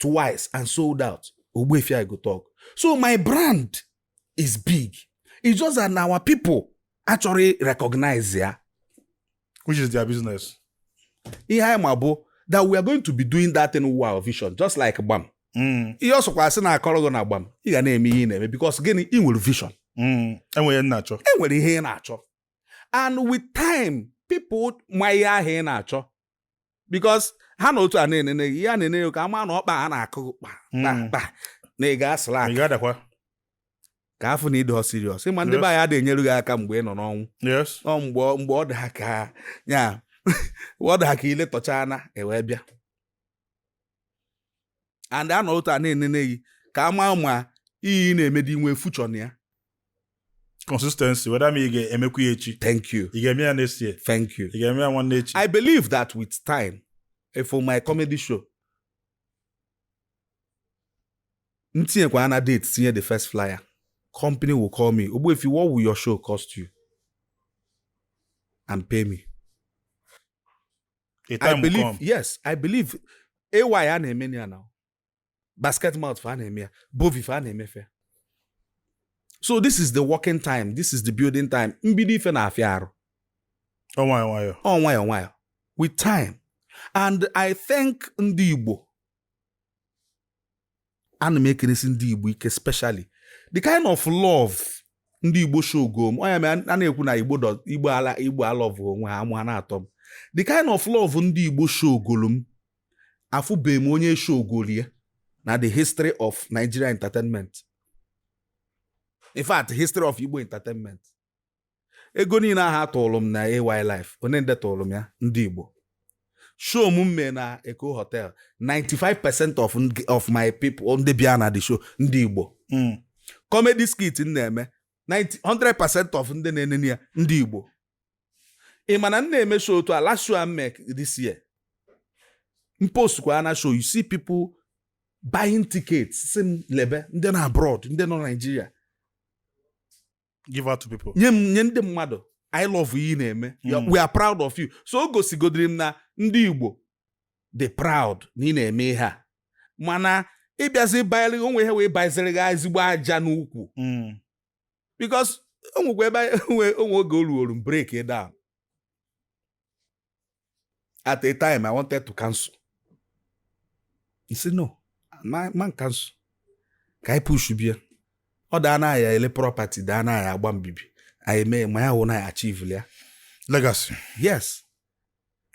twice and sold out Ogbuefi I Go Tuk so my brand is big it's just that na our people achọrọ recognize ya which is their business ihe anyị ma bụ that we are going to be doing that thing with our vision just like gbam mm. ihe ọ sọkwa asị na-akọrọ gị na gbam ị ga na-eme ihe ị na-eme because gịnị ị nwere vision mm. e nwere ihe ị na-achọ e nwere ihe ị na-achọ and with time people ma ihe ahụ ị na-achọ because ha nọ otu a na-enene gị ha na-enene gị ka a maa na ọkpa a na-akụ gị kpa Mm. kpa kpa na ị ga-asịla Ị ga-adakwa. ka a fụ na ị dị serious ị ma ndị Yes. be anyị adịghị enyere gị aka mgbe ị nọ n'ọnwụ Yes. ọ mgbe ọ- mgbe ọ dị ha ka ya mgbe ọ dị ha ka ile tọchana e wee bịa and a nọ otu a na-enene gị ka a maa ma ihe ị na-emedi nwe future na ya consistency whether ma ị ga-emekwa ya echi thank you ị ga-eme ya next year thank you ị ga-eme ya nwanne echi i believe that with time eh, for my comedy show m tinyekwa na date tinye the first flyer company will call me ogbuefi what will your show cost you and pay me A time I will believe come. yes I believe AY a na-eme na ya now Basketmouth fa a na-eme ya Bovi fa a na-eme ife a. so this is the working time this is the building time mbido ife na-afịa arụ Ọ nwayọ nwayọ. ọ nwayọ nwayọ with time and I thank ndị Igbo ana m ekenesi ndị igbo ike specially the kind of love ndị igbo showgo m onye a na-ekwu na igbo igbo ala igbo alove onwe ha amụ ha na-atọ m the kind of love ndị igbo showgolu m afụbeghị m onye showgoli ya na the history of Nigeria entertainment in fact history of Igbo entertainment ego niile ahụ a tụrụ m na AY Live onye ndị tụrụ m ya ndị Igbo show m mee na Eko Hotel 95% of of my people ndị bịa na the show ndị Igbo hmm. comedy skit m na-eme 100% of ndị na-enene ya ndị Igbo ị ma na m na-eme show otu a last show m mee this year m post kwa na show you see people buying tickets sị m lebe ndị nọ abroad ndị nọ Nigeria give out to people nye m nye ndị mmadụ anyị love ihe ị na-eme Ya- Mm. we are proud of you so o gosigodiri m na ndị igbo dị proud na ị na-eme ihe a mana ị bịazi bayere o nwe ihe wee bayeziri gị ezigbo aja n'ukwu Mm. because o nwekwa ebe anyị- o nwe o nwe oge o ruoru m break down at a time i wanted to cancel he said no man cancel ka anyị pushbie ya ọ daa na ya ele property daa na ya agba mbibi anyị mee ma ya hụ na ya achieve ya legacy yes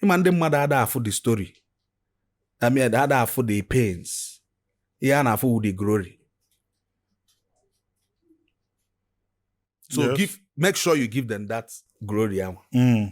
ị ma ndị mmadụ ada afụ the story I mean, ada afụ the pains ihe a na-afụ wụ the glory so yes. give make sure you give them that glory ahụ mm.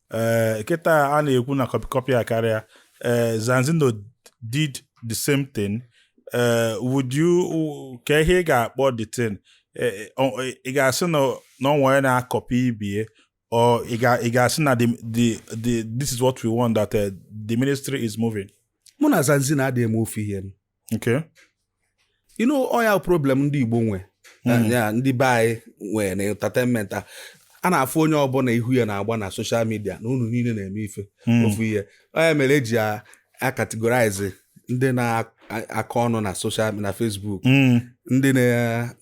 ee eh, kịta a na-ekwu na copy copy akarịa ee eh, Zanzino did the same thing ee would you ka ihe ị ga-akpọ the thing ị ga-asị na o nwere na-akọpị ibe ya or ị ga-asị na this is what we want that uh, the ministry is moving mụ na Zanzino adịghị eme ofu ihe Okay. You know, ọ ya wụ problem ndị Igbo nwe hmm. ya ndị be anyị nwere na entertainment a a na-afụ onye ọbụla ihu ya na-agba na social media na unu niile na-eme ife hmm. ofu ihe ọ ya mere e ji akategorize ndị na-akọ ọnụ na social na Facebook hmm. ndị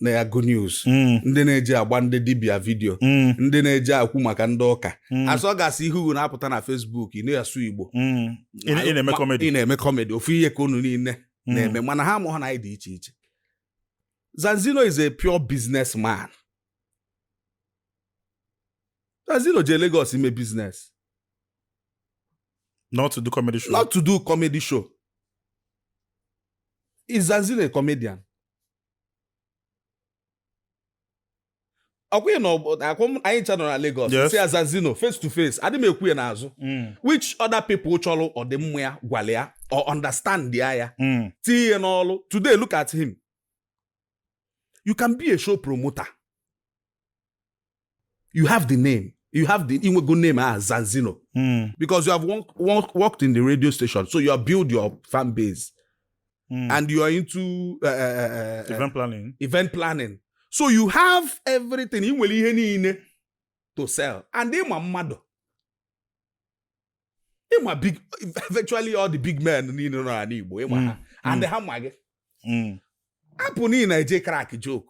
na-agụ news hmm. ndị na-eje agba ndị dibia vidio ndị na-eje ekwu maka ndị ụka as long as ihu na-apụta na Facebook ị na-asụ Igbo Ị na- ị na-eme Ma- comedy. ị na-eme comedy ofu ihe ka unu niile Mm. na-eme mana ha amaghị na anyị dị iche iche zanzino is a pure business man zanzino je Lagos ime business not to do comedy show not to do comedy show is zanzino a comedian ọkwa na-ekwu anyị ncha nọ na Lagos sị Zanzino face to face adị m ekwu ya n'azụ mm. which other people chọrọ ọdịmma ya gwara ya ọ understand ya ya mm. tinye ya n'ọlụ today look at him you can be a show promoter you have the name you have the i nwego name as ah, Zanzino mm. because you have worked in the radio station so you have built your fan base Mm. and you are into uh, uh, uh, uh, event planning. event planning so you have everything ị nwere ihe niile to sell and ị ma mmadụ ị ma big virtually all the big men niile nọ n'ala Igbo ị ma ha Mm. and ha ma gị Mm. hapụnụ ị na-eje crack joke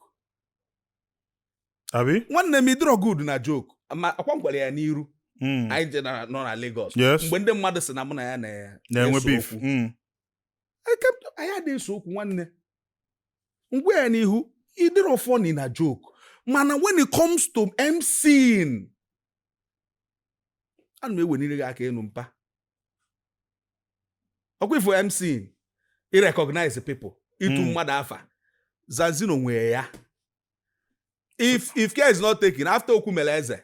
Abi? nwanne m ị dịrọ good na joke ma ọkwa m gwara ya n'iru Mm. anyị je na- nọ na Lagos Yes. mgbe ndị mmadụ sị na mụ na ya na- Na-enwe na-ese beef. okwu. Mm. anyị adịghị ese okwu nwanne m gwa ya n'ihu ị dịrọ funny na joke mana when it comes to MCing ana m ewenire gị aka enu mpa ọkwa ị fụ MCing irecognize people itu hmm. mmadụ afa zanzino nwee ya if if care is not taken after okwu mere eze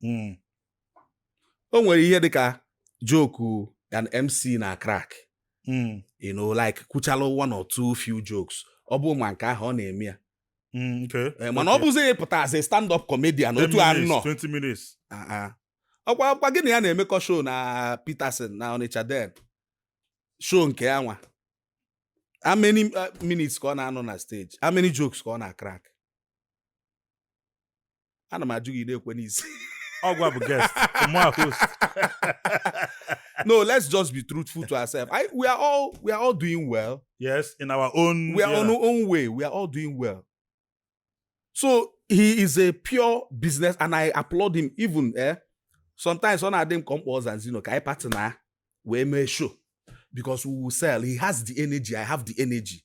hmm. o nwere ihe dị ka joke an MC na-crack hmm. you know like kwuchala one or two few jokes ọ bụ ma nke ahụ ọ na-eme ya hmm, eh, mana ọ bụzi pụta as a stand up comedian otu anụa ah, ah. ọkwa ọkwa gị na ya na-emekọ show na Peterson na Onitsha then show nke ya nwa how many uh, minutes ka ọ na-anọ na stage how many jokes ka ọ na-crack ana m ajụ gị ị na-ekwe n'isi ọ gịwa bụ guest mụwa host no let's just be truthful to ourselves I, we are all we are all doing well yes in our own we are yeah. on our own way we are all doing well so he is a pure business and i applaud him even eh sometimes ọ na-adị m ka m kpọọ Zanzino ka anyị partner wee mee show because we will sell he has the energy i have the energy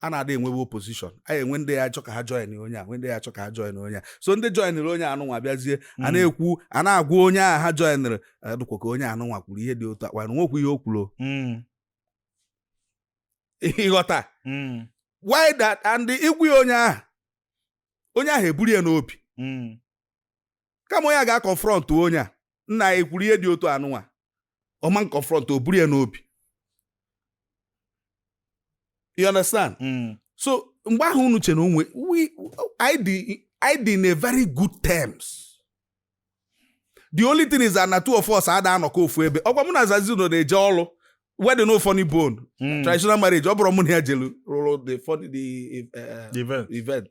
a na-adị enwewe opposition e nwee ndị ya-achọ ka ha join onye a e nwee ndị ya-achọ ka ha join onye a so ndị joinere onye anụnwa bịazie a hmm. na-ekwu a na-agwa onye a ha joinere dịkwa ka onye anụnwa kwuru ihe dị otu akwa na nwekwu ihe o kwuru hmm. ị ghọta hmm. why that and ị gwa onye ahụ onye ahụ eburu ya n'obi kama onye a ga-confront onye a nna ya ekwuru ihe dị otu anụnwa ọ ma confront o buru ya n'obi you understand hmm. so mgbe ahụ unu chere o nwe anyị dị in a very good terms the only thing is that na two of us ada anọkọ ofu ebe ọkwa mụ na Zanzino na-eje ọrụ wedding no funny bone hmm. traditional marriage ọ bụrụ mụ na ya jelu rụrụ the funny the eh, event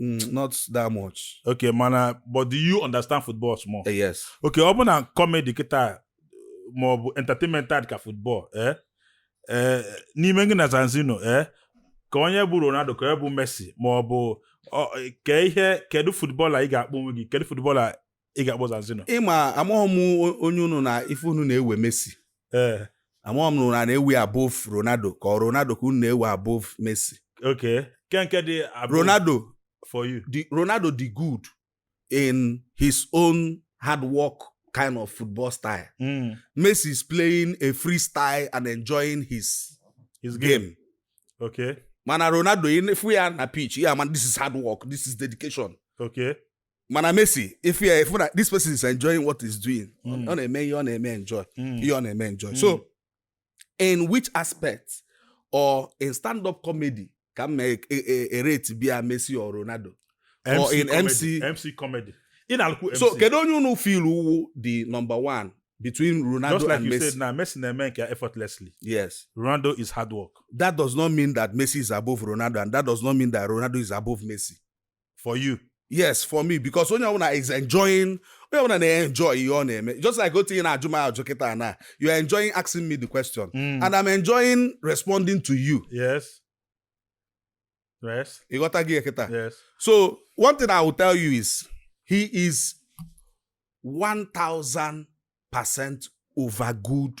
Mm, not that much. okay mana but do you understand football small Eh, yes. okay ọ bụ na comedy kịta ma ọ bụ entertainment adị ka football eh? Eh, n'ime gị na Zanzino eh? ka onye bụ Ronaldo ka onye bụ Messi ma ọ bụ ọ- ka ihe kedu footballer ị ga-akpọ onwe gị kedu footballer ị ga-akpọ Zanzino ị ma amaghị m onye unu na ife unu na-ewe Messi ee amaghị m na unu na-ewe above Ronaldo ka ọ Ronaldo ka unu na-ewe above Messi okay nke nke dị above Ronaldo for you the Ronaldo dị good in his own hard work kind of football style Mm, Messi is playing a freestyle and enjoying his his game game okay mana Ronaldo ị fụ ya na pitch ị ma na this is hard work this is dedication okay mana Messi if you if that this person is enjoying what he's doing mm. ọ na-eme ihe ọ na-eme enjoy hmm. ihe ọ na-eme enjoy so hmm. in which aspect or in stand up comedy ka m e, e, e, erate bia Messi or Ronaldo MC or in comedy. MC MC comedy ị na-alụkwu MC so kedu onye unu feel wụ the number one between Ronaldo Just like and you Messi. said, now Messi na-eme nke effortlessly. Yes. Ronaldo is hard work. That does not mean that Messi is above Ronaldo, and that does not mean that Ronaldo is above Messi. for you yes for me because onye ọbụla is enjoying onye ọbụla na-enjoy ihe ọ na-eme just like otu ị na-ajụ m ajụ kịta na you are enjoying asking me the question mm. and I'm enjoying responding to you yes yes ị ghọtago kịta yes so one thing I will tell you is he is 1000 percent over good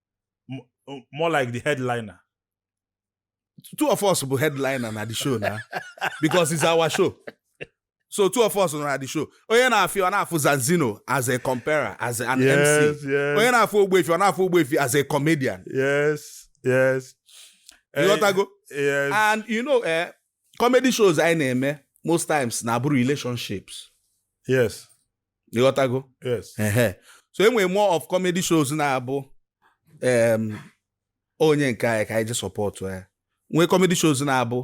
more like the headliner. Two of us bụ headliner na the show now because it's our show. So two of us na the show. Onye na-afụ ọ na-afụ Zanzino as a compere, as an yes, MC. Yes. Onye na-afụ Ogbuefi ọ na-afụ Ogbuefi as a comedian. Yes, yes. Ịghọtago? Yes. And you know, eh, comedy shows anyị na-eme most times na-abụ relationships. Yes. ịghọtago so e nwere more of comedy shows na-abụ onye nke anyị ka anyị je support ya nwee comedy shows na-abụ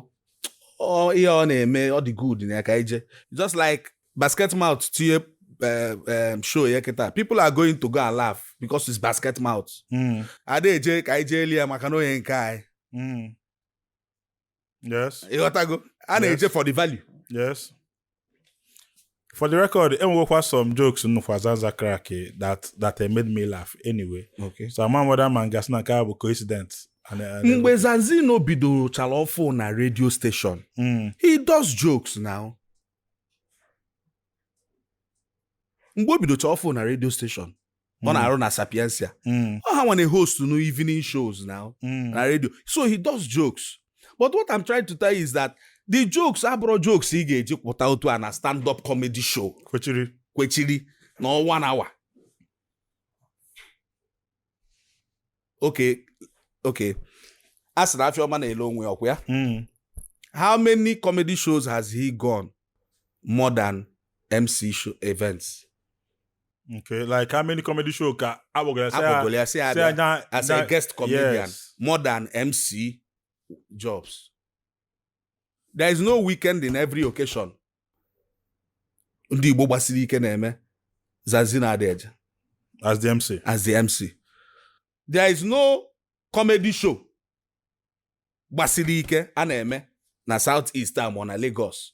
ihe ọ na-eme ọ dị good na ya ka anyị je just like Basketmouth tie Eh, eh, show ya kịta people are going to go and laugh because it's Basketmouth. Hmm. ada eje ka anyị jee lee ya maka na onye nke anyị hmm. yes ịghọtago a na-eje for the value yes for the record enwekwa some jokes m nụkwa Zanzi crack that that made me laugh anyway okay. so ama m whether m ga-asị na nke a bụ coincidence mgbe Zanzino bidochara ọfụụ na radio station hmm. he does jokes now mgbe o bidocha ọfụụ na radio station ọ na-arụ na Sapientia Mm, ọ ha nwa na-host nụ evening shows now mm. na radio so he does jokes but what i'm trying to tell you is that the jokes abụrọ jokes ị ga-eji pụta otu a na stand up comedy show kwechiri kwechiri na one hour okay okay a sị na afịa ọma na-ele onwe ya ọkwa ya Mm. how many comedy shows has he gone more than mc show events Okay, like how many comedy show ka agbagara sị ya- akpọgolo ya sị ya sị ya bịa nya- as a nya- guest comedian yes. more than mc jobs there is no weekend in every occasion ndị Igbo gbasiri ike na-eme Zanzi na-adị eje as the MC as the MC there is no comedy show gbasiri ike a na-eme na South East ma ọ na Lagos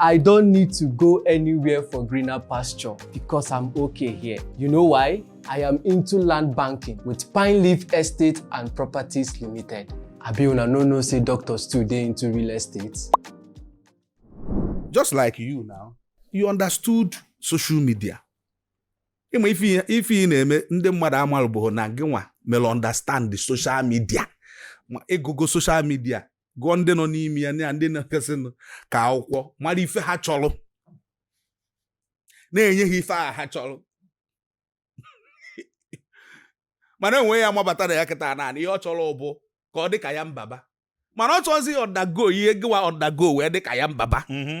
I don't need to go anywhere for greener pasture because I'm okay here. You know why? I am into land banking with Pine Leaf Estate and Properties Limited. Abi una no know say doctors too dey into real estate. Just like you now, you understood social media. Ịma ife ị na-eme ndị mmadụ amalụbụghị na gị nwa mere understand the social media. Ma ịgụgo social media gụọ ndị nọ n'ime ya na ndị na-ekesinụ ka akwụkwọ mara ife ha chọrọ na-enye ha ife a ha chọrọ mana enwe ya mabata na ya kịta naanị ihe ọ chọrọ bụ ka ọ dị ka Yan Baba mana ọ chọzi undergo ihe gịwa undergo wee dị ka Yan Baba mm-hmm.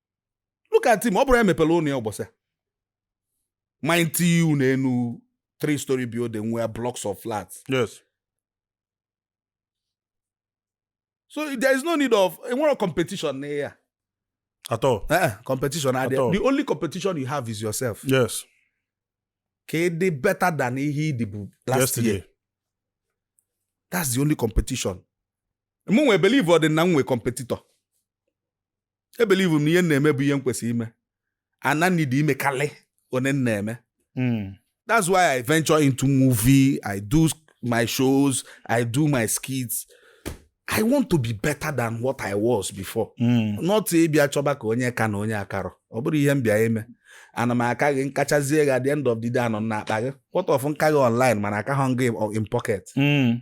look at him ọ bụrọ ya mepelụ ụnọ ya ụbọsị mighty ụnọ enu three story building nwee blocks of flats yes so there is no need of enwere competition na ya at all eh, eh, competition at all. the only competition you have is yourself yes ka ị dị better than ihe ị dịbu last Yesterday. year that's the only competition mụnwa believe ọ dị na m nwe competitor ebelieve m na ihe m na-eme bụ ihe m kwesịrị ime and i need ime kalị one m na-eme hmm. that's why i venture into movie i do my shows i do my skits i want to be better than what i was before hmm. not ịbịa chọba ka onye ka na onye akarọ ọ bụrọ ihe m bịa ime ana m aka gị m kachazie gị at the end of the day anọ na akpa gị what of m ka gị online mana akarọ m gị in pocket hmm.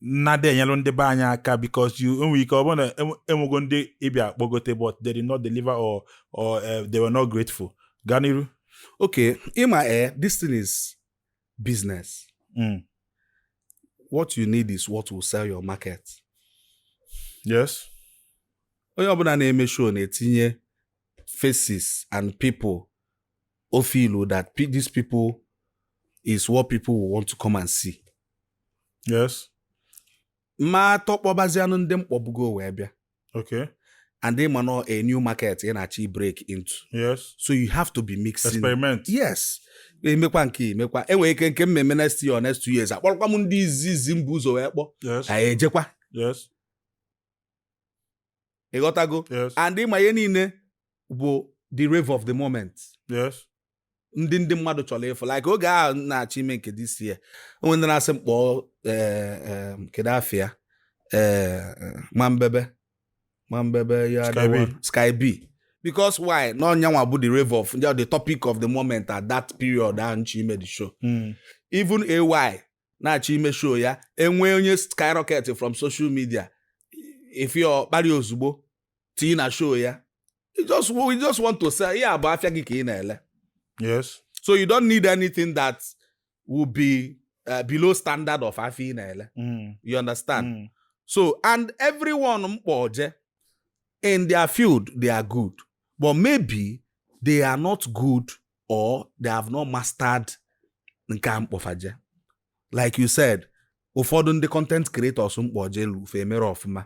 na-adị enyelụ ndị be anyị aka because you enwere ike ọ bụrụ na enwe- enwego ndị ị bịa kpọgote but they did not deliver or or eh, they were not grateful gaa n'iru okay ịma eh this thing is business Mm. what you need is what will sell your market yes onye ọbụla na-eme show na-etinye faces and people o feel that pe- these people is what people will want to come and see yes m ma atọ kpọbazianụ ndị m kpọbugo wee bịa okay and ịma na ọ a new market ị na-achọ ịbreak into yes so you have to be mixing experiment yes emekwa nke emekwa enwere ike nke mmemme next year or next two years akpọrọkwa m ndị izizi m bu ụzọ wee kpọ yes anyị ejekwa yes ịghọtago yes and ịma ihe niile bụ the rave of the moment yes ndị ndị mmadụ chọrọ ịfụ like oge ahụ m na-achọ ime nke this year o nwe ndị na-asị m kpọọ eh, eh, kedu afa ya eh, ma mbebe ma mbebe ya Sky the B. one- sky b because why na ọ nyanwa bụ the rave of the topic of the moment at that period ahụ m chọ ime the show Mm. even ay na-achọ ime show ya enwee onye skyrocket from social media ị fụ ọ kpari ozugbo tii na show ya you just, you just want to sell ya bụ afịa gị ka ị na-ele yes so you don't need anything that will be uh, below standard of afịa ị na-ele mm. you understand mm. so and everyone m kpọje in their field they are good but maybe they are not good or they have not mastered nke a m kpọ fa je like you said ụfọdụ ndị content creators m kpọjelu fa emerọ ọfụma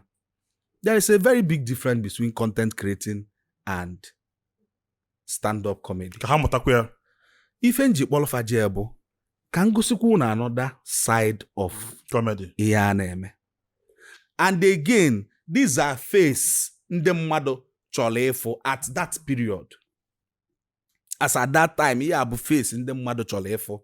there is a very big difference between content creating and stand-up comedy ka ha mụtakwa ya ife m ji kpọlụ fa je bụ ka m gosikwu na another side of comedy ihe a na-eme and again these are face ndị mmadụ chọrọ ịfụ at that period as at that time ihe a bụ face ndị mmadụ chọrọ ịfụ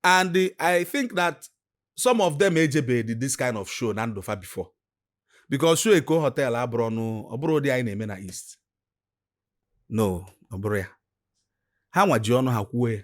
and i think that some of them ejebedi this kind of show na ndụ fa before because show eko hotel abụrọ nụ ọ bụrọ ụdị anyị na-eme na east no ọ bụrọ ya ha nwa ji ọnụ ha kwuo ya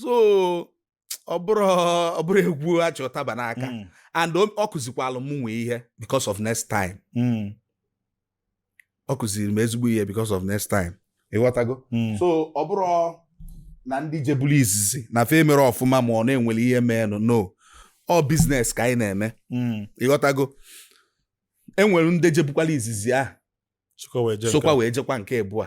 so ọ bụrọ ọ bụrọ egwu achị ụtaba n'aka mm. and ọ kụzikwalụ m nwee ihe because of next time mm. ọ kụziri m ezigbo ihe because of next time ịghọtago mm. so ọ bụrọ na ndị jebulu izizi na fa emerọ ọfụma ma ọ na enwere ihe meenụ no ọ business ka anyị na-eme ịghọtago enwere ndị jebukwala izizi ahụ sokwa wee jekwa nke ịbụa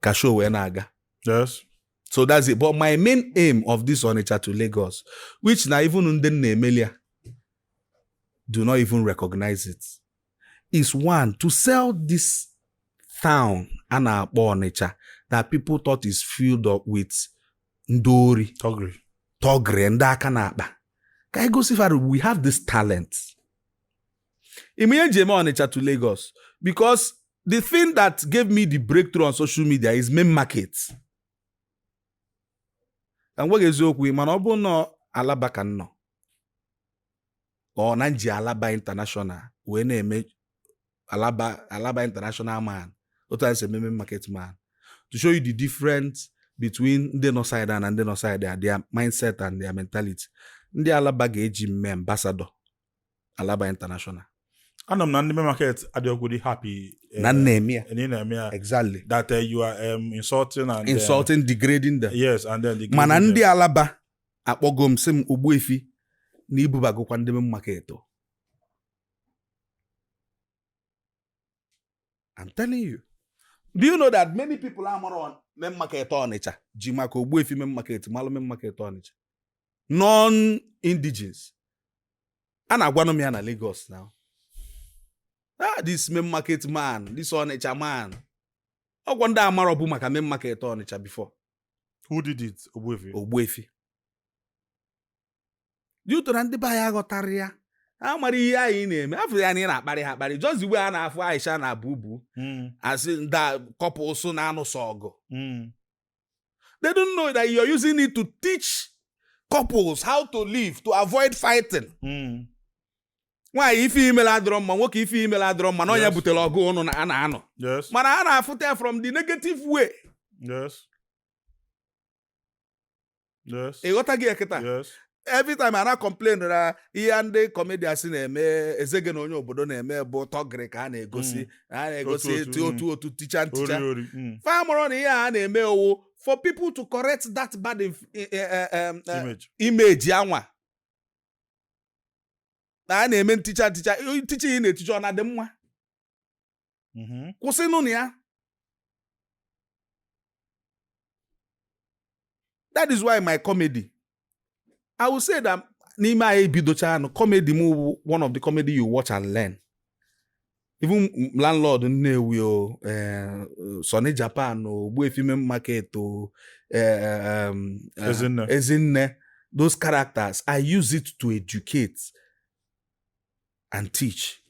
ka show wee na-aga yes so that's it but my main aim of this Onitsha to Lagos which na even ndị m na-emeli ya do not even recognize it is one to sell this town a na-akpọ Onitsha that people thought is filled up with ndị ori thuggery thuggery ndị aka n'akpa ka anyị gosi fa we have this talent ị ma ihe m ji eme Ọnịcha to Lagos because the thing that gave me the breakthrough on social media is main market ka m gwa gị eziokwu mana ọ bụrụ na Alaba ka m nọ or na m ji Alaba international wee na-eme Alaba Alaba international man otu anyị si eme main market man to show you the difference between ndị nọ side a na ndị nọ side a their mindset and their mentality ndị Alaba ga-eji m mee ambassador Alaba International anụ m na ndị market adịọgodi happy eh, na m na-eme ya na ị na-eme ya exactly that eh, you are um, insulting and eh, insulting degrading them yes and then degrading them. mana ndị Alaba akpọgo m sị m Ogbuefi na i bubagokwa ndị main market o. I'm telling you do you know that many people amarọ main market Ọnịcha ji maka Ogbuefi main market malụ main market Ọnịcha non-indigenes a na-agwanụ m ya na Lagos now ah this main market man this Onitsha man ọ wụ ndị amarọbu maka main market Onitsha before who did it Ogbuefi Ogbuefi did it ọ na ndị be anyị aghọtarọ ya amarọ ihe anyị na-eme a fụ ya na ị na-akparị ha akparị just the way a na-afụ Aisha na Bubu hmm. a sị ndị couples na-anụsọ ọgụ hmm. They don't know that you're using it to teach couples how to live to avoid fighting. Hmm. nwaanyị ife i melụ adịrọ mma nwoke ife i melụ adịrọ mma na ọ nya butere ọgụ ụnụ na a na-anụ mana a na-afụta ya from the negative way. Yes. ịghọtago ya kịta every time a na-complain na ihe ndị comedians na-eme Ezege na Onye Obodo na-eme bụ thuggery ka a na-egosi mm. a na-egosi etu mm. otu otu ticha nticha mm. fa amarọ na ihe a na-eme ọ wụ for people to correct that bad eh, eh, eh, image anwa na a na-eme nticha nticha nticha ị na-eticha ọ na-adị mma mm-hmm. kwụsịnụ na ya that is why my comedy i will say that n'ime anyị bidochaanụ comedy m wụ one of the comedy you watch and learn even landlord Nnewi o eh, Sonny Japan o Ogbuefi Main Market o eh, um, eh, Ezinne Ezinne those characters I use it to educate and teach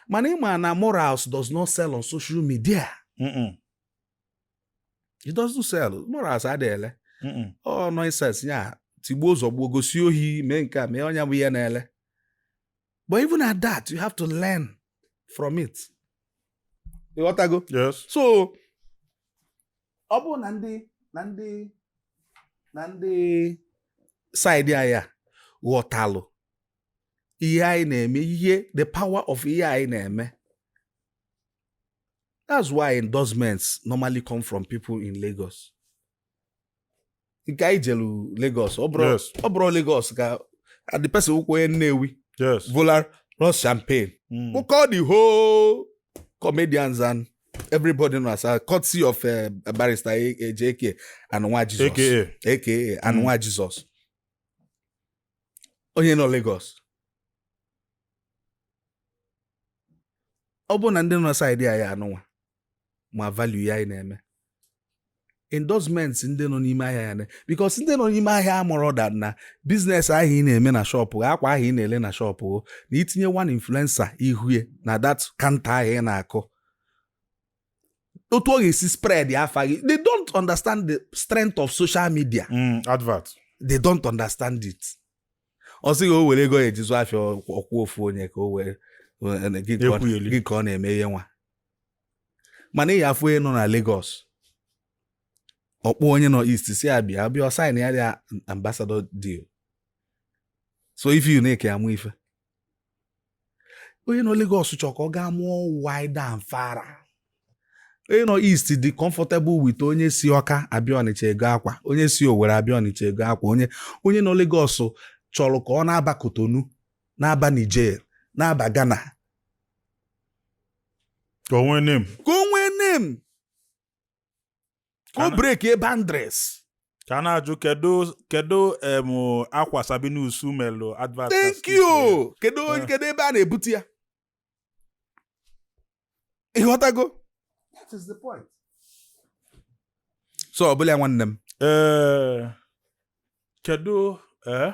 mana ịma na morals does not sell on social media it doesn't sell morals adịghị ele ọ nonsense ya tigbuo zọgbuo gosi ohi mee nke a mee onye bụ ihe na-ele but even at that you have to learn from it ịghọtago yes so ọ bụrụ na ndị na ndị na ndị side anyị a ghọtalụ ihe anyị na-eme ihe the power of ihe anyị na-eme that's why endorsements normally come from people in Lagos nke anyị jelu Lagos ọ bụrụ Lagos ka the person wụkwa onye Nnewi volar rose champagne hmm. wụkọ the whole comedians and everybody nọ asa courtesy of eh, barrister Ejike eh, eh, and nwa Jesus aka and hmm. nwa Jesus onye nọ Lagos ọ bụrụ na ndị nọ side anyị anụnwa ma value ihe anyị na-eme endorsements ndị nọ n'ime ahịa ya na because ndị nọ n'ime ahịa amarọ that na business ahụ ị na-eme na shop gị akwa ahụ ị na-ele na shop gị na itinye one influencer ihu e na that counter ahụ ị na-akụ otu ọ ga-esi spread ya afa gị they don't understand the strength of social media Mm, advert they don't understand it ọ sị gị o were ego ya-eji zụ afịa ọ kwụọ ofu onye ka o were gị ka ọ- Ekwugheli. gị ka ọ na-eme ihe nwa mana ị ya-afụ onye nọ na Lagos ọ kpọọ onye nọ East sị ya bịa bịa ọ sign ya dị ambassador deal so if you na-eke amụ ife onye nọ Lagos chọrọ ka ọ gaa more wide and far onye nọ East dị comfortable with onye si Ọka abịa Ọnịcha ego akwa onye si Owerri abịa Ọnịcha ego akwa onye onye nọ Lagos chọrọ ka ọ na-aba Kotonu na-aba Niger na-aba Ghana ka o nwee name ka o nwee name ka o breakie boundaries ka a na-ajụ kedu kedu em akwa Sabinus melụ advert na thank skit ya? you kedu onye- Eh. kedu ebe a na-ebute ya ịghọtago that is the point so ọ bụlụ ya nwanne m ee kedu ee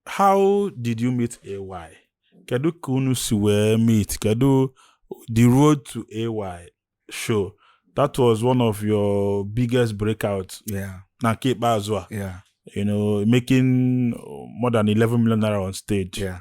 how did you meet AY? Kedu ka unu si wee meet? Kedu the road to AY show? That was one of your biggest breakouts yeah. na nke ikpeazụ a. Yeah. You know, making more than 11 million naira on stage. Yeah.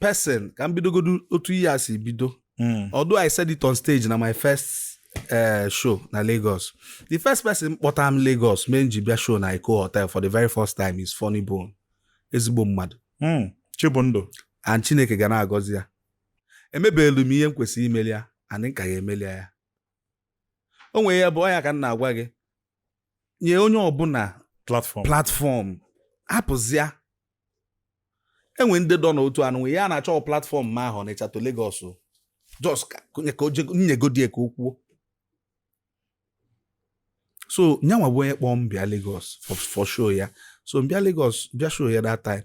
person ka m bidogodu otu ihe a si bido Mm. although i said it on stage na my first uh, show na lagos the first person kpọta m lagos mee m ji bịa show na Eko Hotel for the very first time is Funny Bone ezigbo mmadụ Mm. chibụndụ and chineke ga na-agọzi ya emebeelu m ihe m kwesịrị imeli ya and m ka ga-emeli ya o nwere ya bụ ọ nya ka m na-agwa gị nye onye ọbụla platform hapụzịa enwe ndị dọ n'otu anụ nwe ya na-achọ platform ma ahụ Ọnịcha to Lagos just ka e nyegodi ya ka o kwuo so nya nwa bụ onye kpọọ m bịa Lagos for show ya so m bịa Lagos bịa show ya that time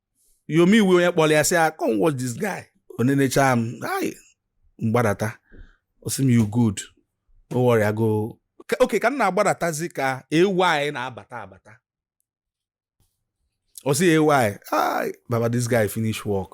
Yomi bụ onye kpọrọ ya sị ya come watch this guy o nenechaa m m gbadata ọ sị m you good no worry I go okay ka m na-agbadatazi ka AY na-abata abata ọ sị AY baba this guy finish work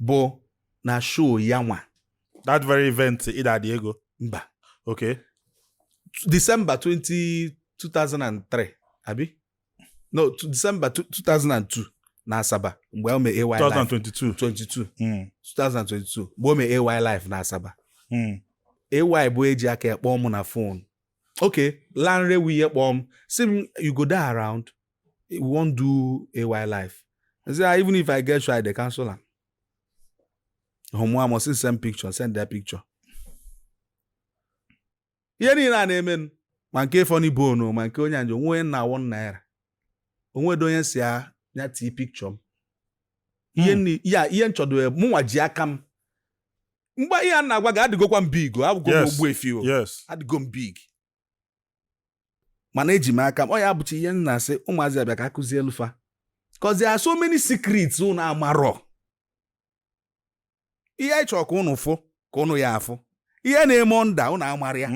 bụ na show ya nwa that very event ịdadị ego mba okay December 20, 2003 abi no December 2002 na Asaba mgbe o mee AY 2022 22 mm. 2022 mgbe o mee AY live na Asaba mm. AY bụ eji aka ya kpọọ m na fon okay Lanre wee kpọọ m sị m you go dey around we wan do AY Live i say ah, even if i get show i dey cancel am omo i must send picture send their picture ihe niile a na-emenụ ma nke Funny Bone ma nke onye anjo onwe na one naira o nwedo onye sị ya ya tii picture m ihe hmm. ya ihe nchọdo ya mụnwa ji aka m mgbe ihe a m na-agwa gị adịgokwa m big abụgo m Ogbuefi o adịgo m big mana eji m aka m ọ ya bụcha ihe m na-asị ụmụazị a bịa ka a kụzielụ fa cause there so many secrets unu amarọ ihe anyị chọrọ ka unu fụ ka unu ya-afụ ihe na-eme under unu amarọ ya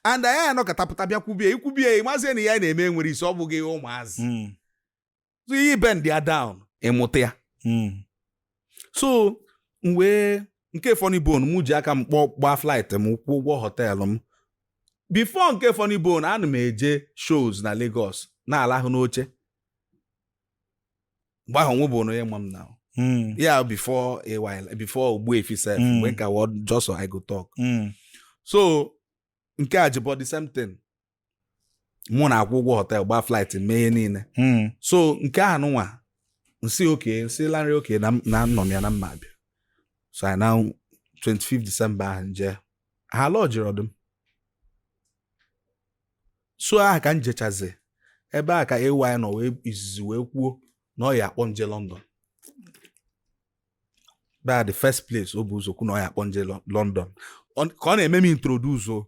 and anyị anọkọtapụta bịa kwubie i kwubie ị mazie na ihe a na-eme nwere isi ọ bụghị ihe ụmụazị mm. so ị bendịa down ị mụta ya hmm. so mgbe nke Funny Bone m ji aka m kpọọ gbaa flight m kwụọ ụgwọ hotel m before nke Funny Bone ana m eje shows na Lagos na-alahụ n'oche mgbe ahụ nwe bụ na onye ma m na hmm. yeah before a while before Ogbuefi sef hmm. mgbe m ka bụ just I go talk hmm. so nke Ajebo the same thing mụ na-akwụ ụgwọ hotel gbaa flight mee ihe niile hmm. so nke ahụ nụnwa m sị okay m sị Lanre okay na nọ m ya na m ma-abịa so anyị na 25 December ahụ m jee ha lodgere ọdụm so aha ka m jechazi ebe a ka AY nọ wee izizi wee kwuo na ọ ya-akpọ m je London ebe a the first place o bu ụzọ kwu na ọ ya-akpọ m je London ka ọ na-eme m introduce o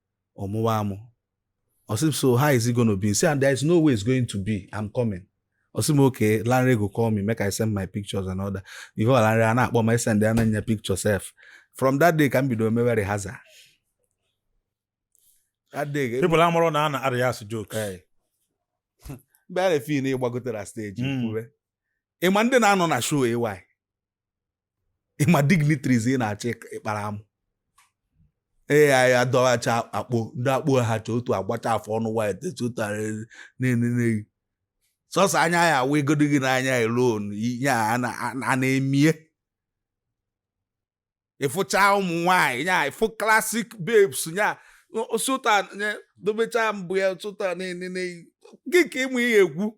ọ mụwa amụ ọ sị m so how is it going to be say there is no way it's going to be I'm coming ọ sị m okay Lanre go call me make I send my pictures and all that before Lanre a na-akpọ ma send ya na-enye picture sef from that day ka m bido mewe rehearsal that day people amarọ na a na-arehearse jokes mgbe a na-efeel na ị gbagotere stage kwube ị ma ndị na-anọ na show AY ị ma dignitaries ị na-achọ ịkpara amụ ee anyị adọghacha akpo ndị akpo ha chọ otu agbacha afọ ọnụ white si otu a na-enene gị sọsọ anya ya awụ igodo gị n'anya alone ihe a na-eme ị fụcha ụmụ nwanyị nya ị fụ classic babes nya si otu a dobecha mbụ ya si otu a na-enene gị ka ị wụ ihe egwu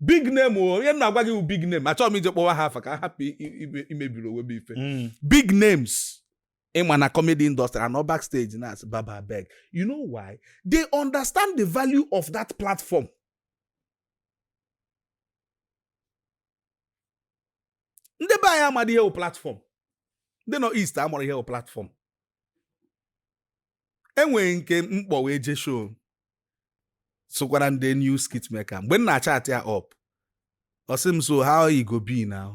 big name o onye na-agwa gị bụ big name achọghị m ije kpọwa ha afa ka m hapụ imebiri onwe m ife mm. big names ị ma na comedy industry anọọ back stage na-asị baba abeg you know why they understand the value of that platform ndị be anyị amadị ihe wụ platform ndị nọ east amarọ ihe wụ platform e nwere nke m kpọ wee je show sokwara ndị new skit maker mgbe m na-achat ya up ọ sị m so how e go be now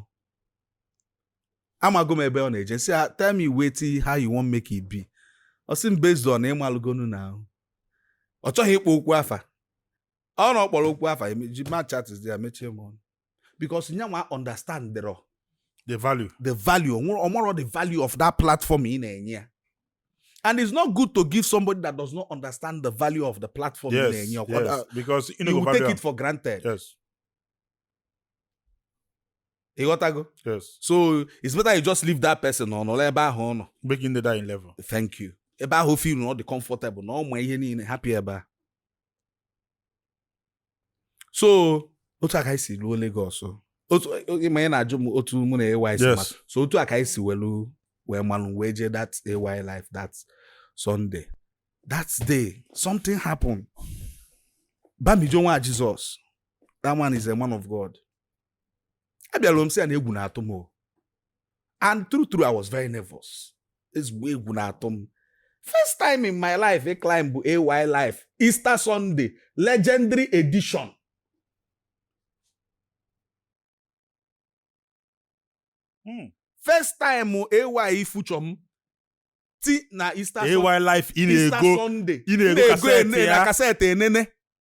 amago m ebe ọ na-eje sị ah, tell me wetin how you wan make it be ọ sị m based on ị malụgonu now ọ chọghị ịkpọ okwu afa ọ na ọ kpọrọ okwu afa ji my chat is there mechie m ọnụ because nyanwa understand the the value ọ marọ the value of that platform ị na-enye ya and it's not good to give somebody that does not understand the value of the platform yes, ị na-enye yes, uh, because you, know, you will take it for granted yes ị ghọtago yes so it's better you just leave that person ọ nọrọ ebe ahụ ọ nọ breaking the dying level thank you ebe ahụ feel na ọ dị comfortable na ọ ma ihe niile happy ebe a so otu a ka anyị si ruo Lagos otu ị ma ị na-ajụ m otu mụ na AY si Yes. ma so otu a ka anyị si welu wee malụ wee jee that AY Live that Sunday that day something happened Bamijo nwa Jesus that man is a man of God abịara m sị ya na egwu na-atụ m and true true I was very nervous ezigbo egwu na-atụ m first time in my life ịclimbụ AY Live Easter Sunday legendary edition hmm. first time AY feature m ti na Easter AY Live ị na-ego ị na-ego kaseti ya kaseti enene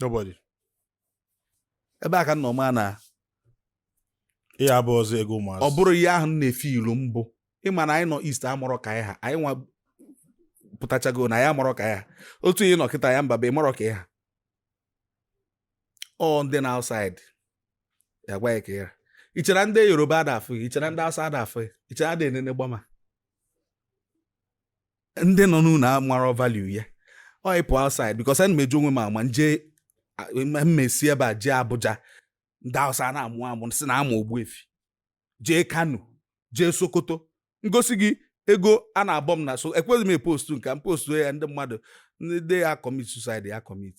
nobody ebe a ka nna ọma na ihe abụ ọzọ ego ụmụazị ọ bụrụ ihe ahụ m na-efe ilu mbụ ị ma na anyị nọ east amarọ ka anyị ha anyị nwa pụtachago na ya amarọ ka ya ha otu ị nọ kịta ya mba bụ ị marọ ka ị ha ọ ndị nọ outside ya-agwa ị ka ị ra ị chere ndị Yoruba ada afụ ị chere ndị Hausa ada afụ ị chere ada enene gbama ndị nọ n'ụlọ amarọ value ya ọ ị pụ outside because ana m eji onwe m ama njem m esi ebe a jee Abuja ndị Hausa na-amụ amụ sị na ama Ogbuefi jee Kano jee Sokoto m gosi gị ego a na-abọ m na so ekwezi m epostu nke m postu ya ndị mmadụ ndị ya commit suicide ya commit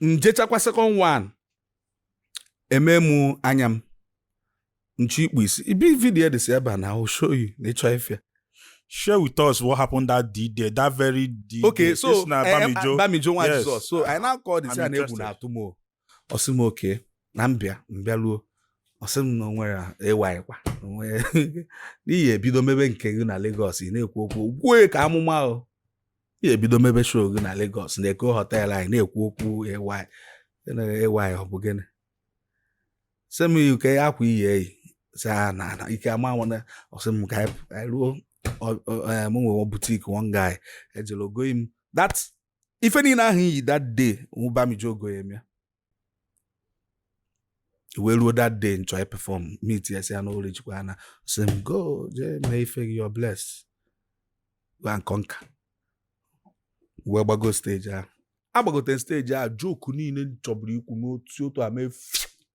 njechakwa second one eme m anya m nchi ikpu isi ibi video edesi ebe a na o show you na ịchọ ife share with us what happened that day there that very day okay so eh, eh, Bamijo nwa Jesus so anyị na-akọ m sị ya na egwu na-atụ m o ọ sị m okay na mbịa mbịa ruo ọ sị m na o nwere AY kwa na ị ya-ebido mebe nke gị na Lagos ị na-ekwu okwu wee ka amụma o ị ya-ebido mebe show gị na Lagos na Eko Hotel anyị na-ekwu okwu AY AY ọ bụ gịnị sị m kee akwa ị ya-eyi sị ya na ike ama nwana ọ sị m ka anyị ruo m nwere boutique one guy ejeruo goyi m that ife niile ahụ m yi that day Bamijo goyi m ya e wee ruo that day m chọ ịperform meet ya sị ya na o reachikwana ọ sị m go jee mee ife gị you're blessed go and conquer wee gbago stage ahụ agbagote stage ahụ joke niile chọburu ikwu n'otu otu a mee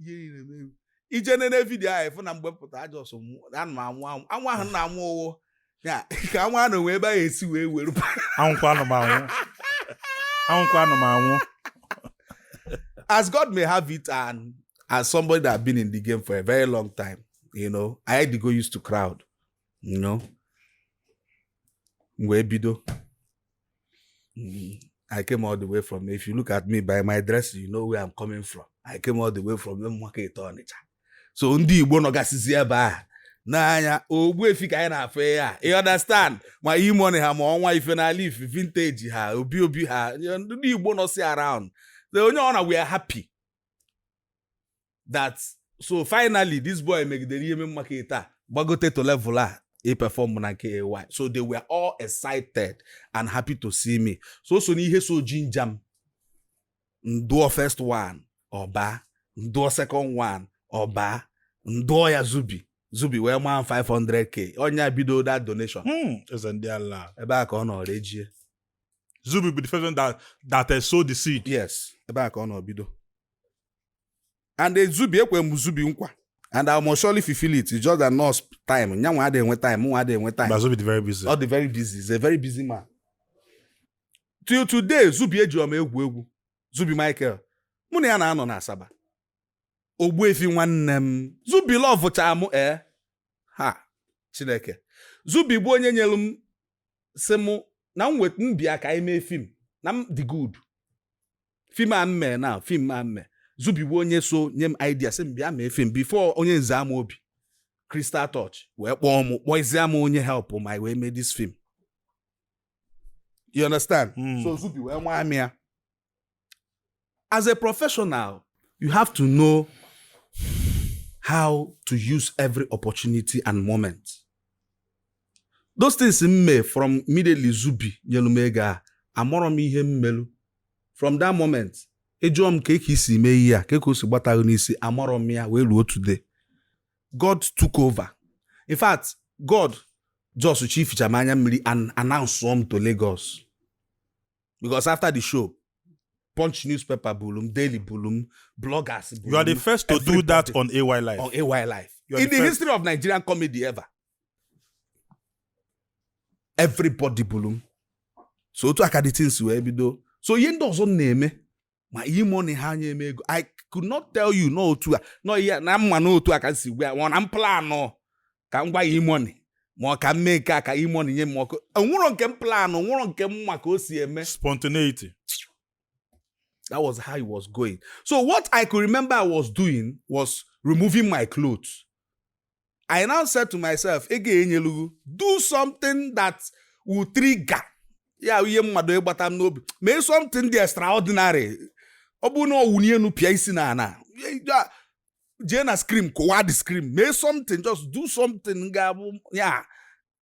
ihe niile meru ị jee nene video ahụ ị fụ na mgbe pụta I just anụ m anwụ anwụ anwụ ahụ na anwụ ụwụ ya ka anwụ anụ wee ebe a esi wee were anwụkwa anụ m anwụ anwụkwa anụ m anwụ as God may have it and as somebody that have been in the game for a very long time you know I had to go used to crowd you know m wee bido I came all the way from if you look at me by my dress you know where I'm coming from I came all the way from Market Ọnịcha so ndị Igbo nọgasịzi ebe a n'anya Ogbuefi ka anyị na-afụ ya you understand ma E-Money ha ma ọnwa ife n'ala ife vintage ha obi obi ha ndị Igbo nọsi around onye ọ na we are happy that so finally this boy megidere ihe Main Market agbagote to level a ị perform na nke AY so they were all excited and happy to see me so o so n'ihe so ginger m m dụọ first one ọ baa m dụọ second one ọ baa m dụọ ya Zubby Zubby wee maa 500k ọ nya bido that donation Hmm, eze ndị ala ebe a ka ọ nọrọ ejie Zubby bụ the first one that that uh, sow the seed yes ebe a ka ọ nọ bido and e Zubby ekwe m Zubby nkwa and I must surely fulfill it it's just that no time nya nwa adịghị enwe time mụ nwa adịghị enwe time but Zubby dị very busy. ọ dị very busy he's a very busy man till today Zubby ejirọ m egwu egwu Zubby Michael mụ na ya na-anọ na Asaba Ogbuefi nwanne m Zubby lovecha m ee ha Chineke Zubby bụ onye nyere m sị mụ na m wait m bịa ka anyị mee film na m dị good film a m mee now film a m mee Zubby bụ onye so nye m idea sị m bịa mee film before Onyeze Amobi Crystal Touch wee kpọọ m kpọzie m onye help m a wee mee this film you understand hmm. so Zubby wee nwaa m ya as a professional you have to know how to use every opportunity and moment those things m mee from immediately Zubby nyelu m ego a amarọ m ihe m melu from that moment ị jụọ m kee ka i si mee ihe a kee ka o si gbata gị n'isi amarọ m ya wee ruo today god took over in fact god just chificha m anya mmiri and announce m to lagos because after the show punch newspaper bulu m daily bulu m bloggers bulu You are the m, first to do everybody that on AY Live. on AY Live You are in the the first. history of nigerian comedy ever everybody bụrụ m so otu a ka the things wee bido so ihe ndị ọzọ na-eme ma E-Money ha enye m ego i could not tell you na otu a na ihe na m ma na otu a ka m si gwa ya ma ọ na m planụ ka m gwa E-Money ma ọ ka m mee nke a ka E-Money nye m ọkụ o nwerọ nke m planụ o nwerọ nke m ma ka o si eme spontaneity that was how it was going so what i could remember i was doing was removing my clothes I now said to myself, ego enyelugu, do something that will trigger ya ihe mmadụ ịgbata m n'obi mee something dị extraordinary ọ bụrụ na ọ wụni enu pịa isi n'ana jee na screen kụwa the screen mee something just do something ga-abụ ya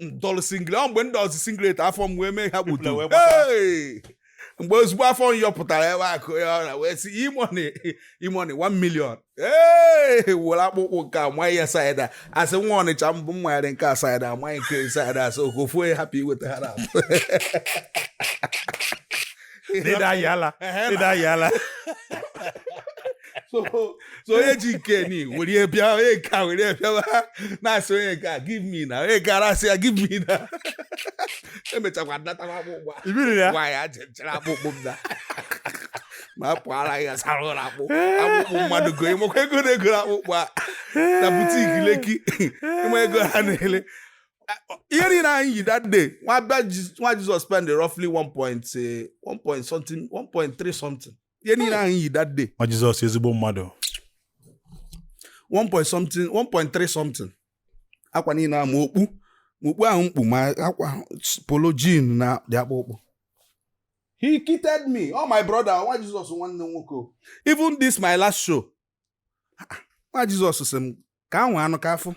m dọlụ singlet ọ mgbe m dọsị singlet afọ m wee mee ha gbutu People wee gbata. Hey! mgbe ozugbo afọ m yọpụtara ebe akụ ya ọra wee sị E-Money E-Money 1 million ee were akpụkpụ nke a manye ya side a asị nwa Ọnịcha mbụ m manyere nke a side a manye nke side a asị okofu onye hapụ iweta ha na ịda ayị ala ịda ayị ala so onye ji nke ni were bịa onye nke a were bịawa na-asị onye nke a give me na onye nke a na-asị ya give me na emechakwa nnatakwa akpụkpọ nwa ya jechara akpụkpọ m na ma a pụara ya sara ụlọ akpụ akpụkpụ mmadụ go ị makwa ego na-egoro akpụkpọ a na boutique Lekki ị ma ego ha na-ele ihe niile anyị yi that day nwa bịa Ji- nwa Jizọs spend roughly 1 point eh, 1 point something 1.3 something ihe niile anyị yi that day nwa Jizọs ezigbo mmadụ 1 point something 1.3 something akwa niile a ma okpu ma okpu ahụ m kpu ma akwa polo jean na dị akpụkpụ he kitted me oh my brother nwa Jizọs nwanne m nwoke o. even this my last show Ah, nwa Jizọs sị m ka ahụ anụ ka afụ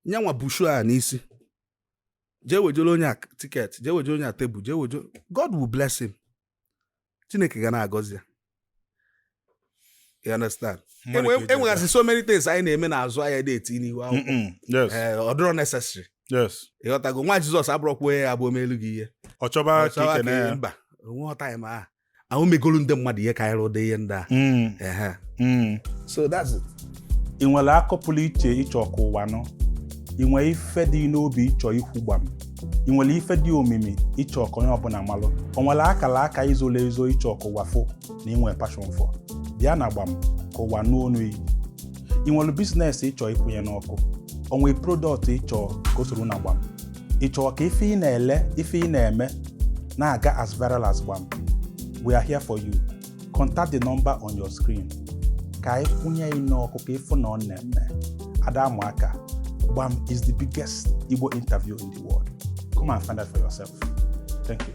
nye nwa bushu a n'isi jee wejere onye a ticket jee wejere onye a table jee wejere God will bless him Chineke ga na-agọzi ya you understand e nwegasị so many things anyị na-eme n'azụ anyị adị eti n'ihu akwụkwọ eh, ọ dịrọ necessary ị ghọtago nwa Jizọs abụrọkwa onye ya-abụ o melu gị ihe ọ chọba ka mba onwe ọtaim ahụ ahụ megolu ndị mmadụ ihe karịrị ụdị ihe ndị a Mm, Ehe. mm. so that's it ị nwere akọ pụrụ iche ị chọ ka ụwa nụ ị nwere ife dị n'obi ị chọ ikwu gbam ị nwere ife dị omimi ị chọ ka onye ọbụla malụ o nwere akara aka i zolo ezo ị chọ ka ụwa fụ na ị nwere passion for bịa na Gbam ka ụwa nụ onu yị ị nwere business ị chọ ịkwụnye n'ọkụ o nwere product ị chọ ka o soro na Gbam ị chọrọ ka ife ị na-ele ife ị na-eme na-aga as viral as Gbam we are here for you contact the number on your screen ka anyị kwụnye yị n'ọkụ ka ị fụ na ọ na-eme a da amụ aka Gbam is the biggest Igbo interview in the world come and find out for yourself thank you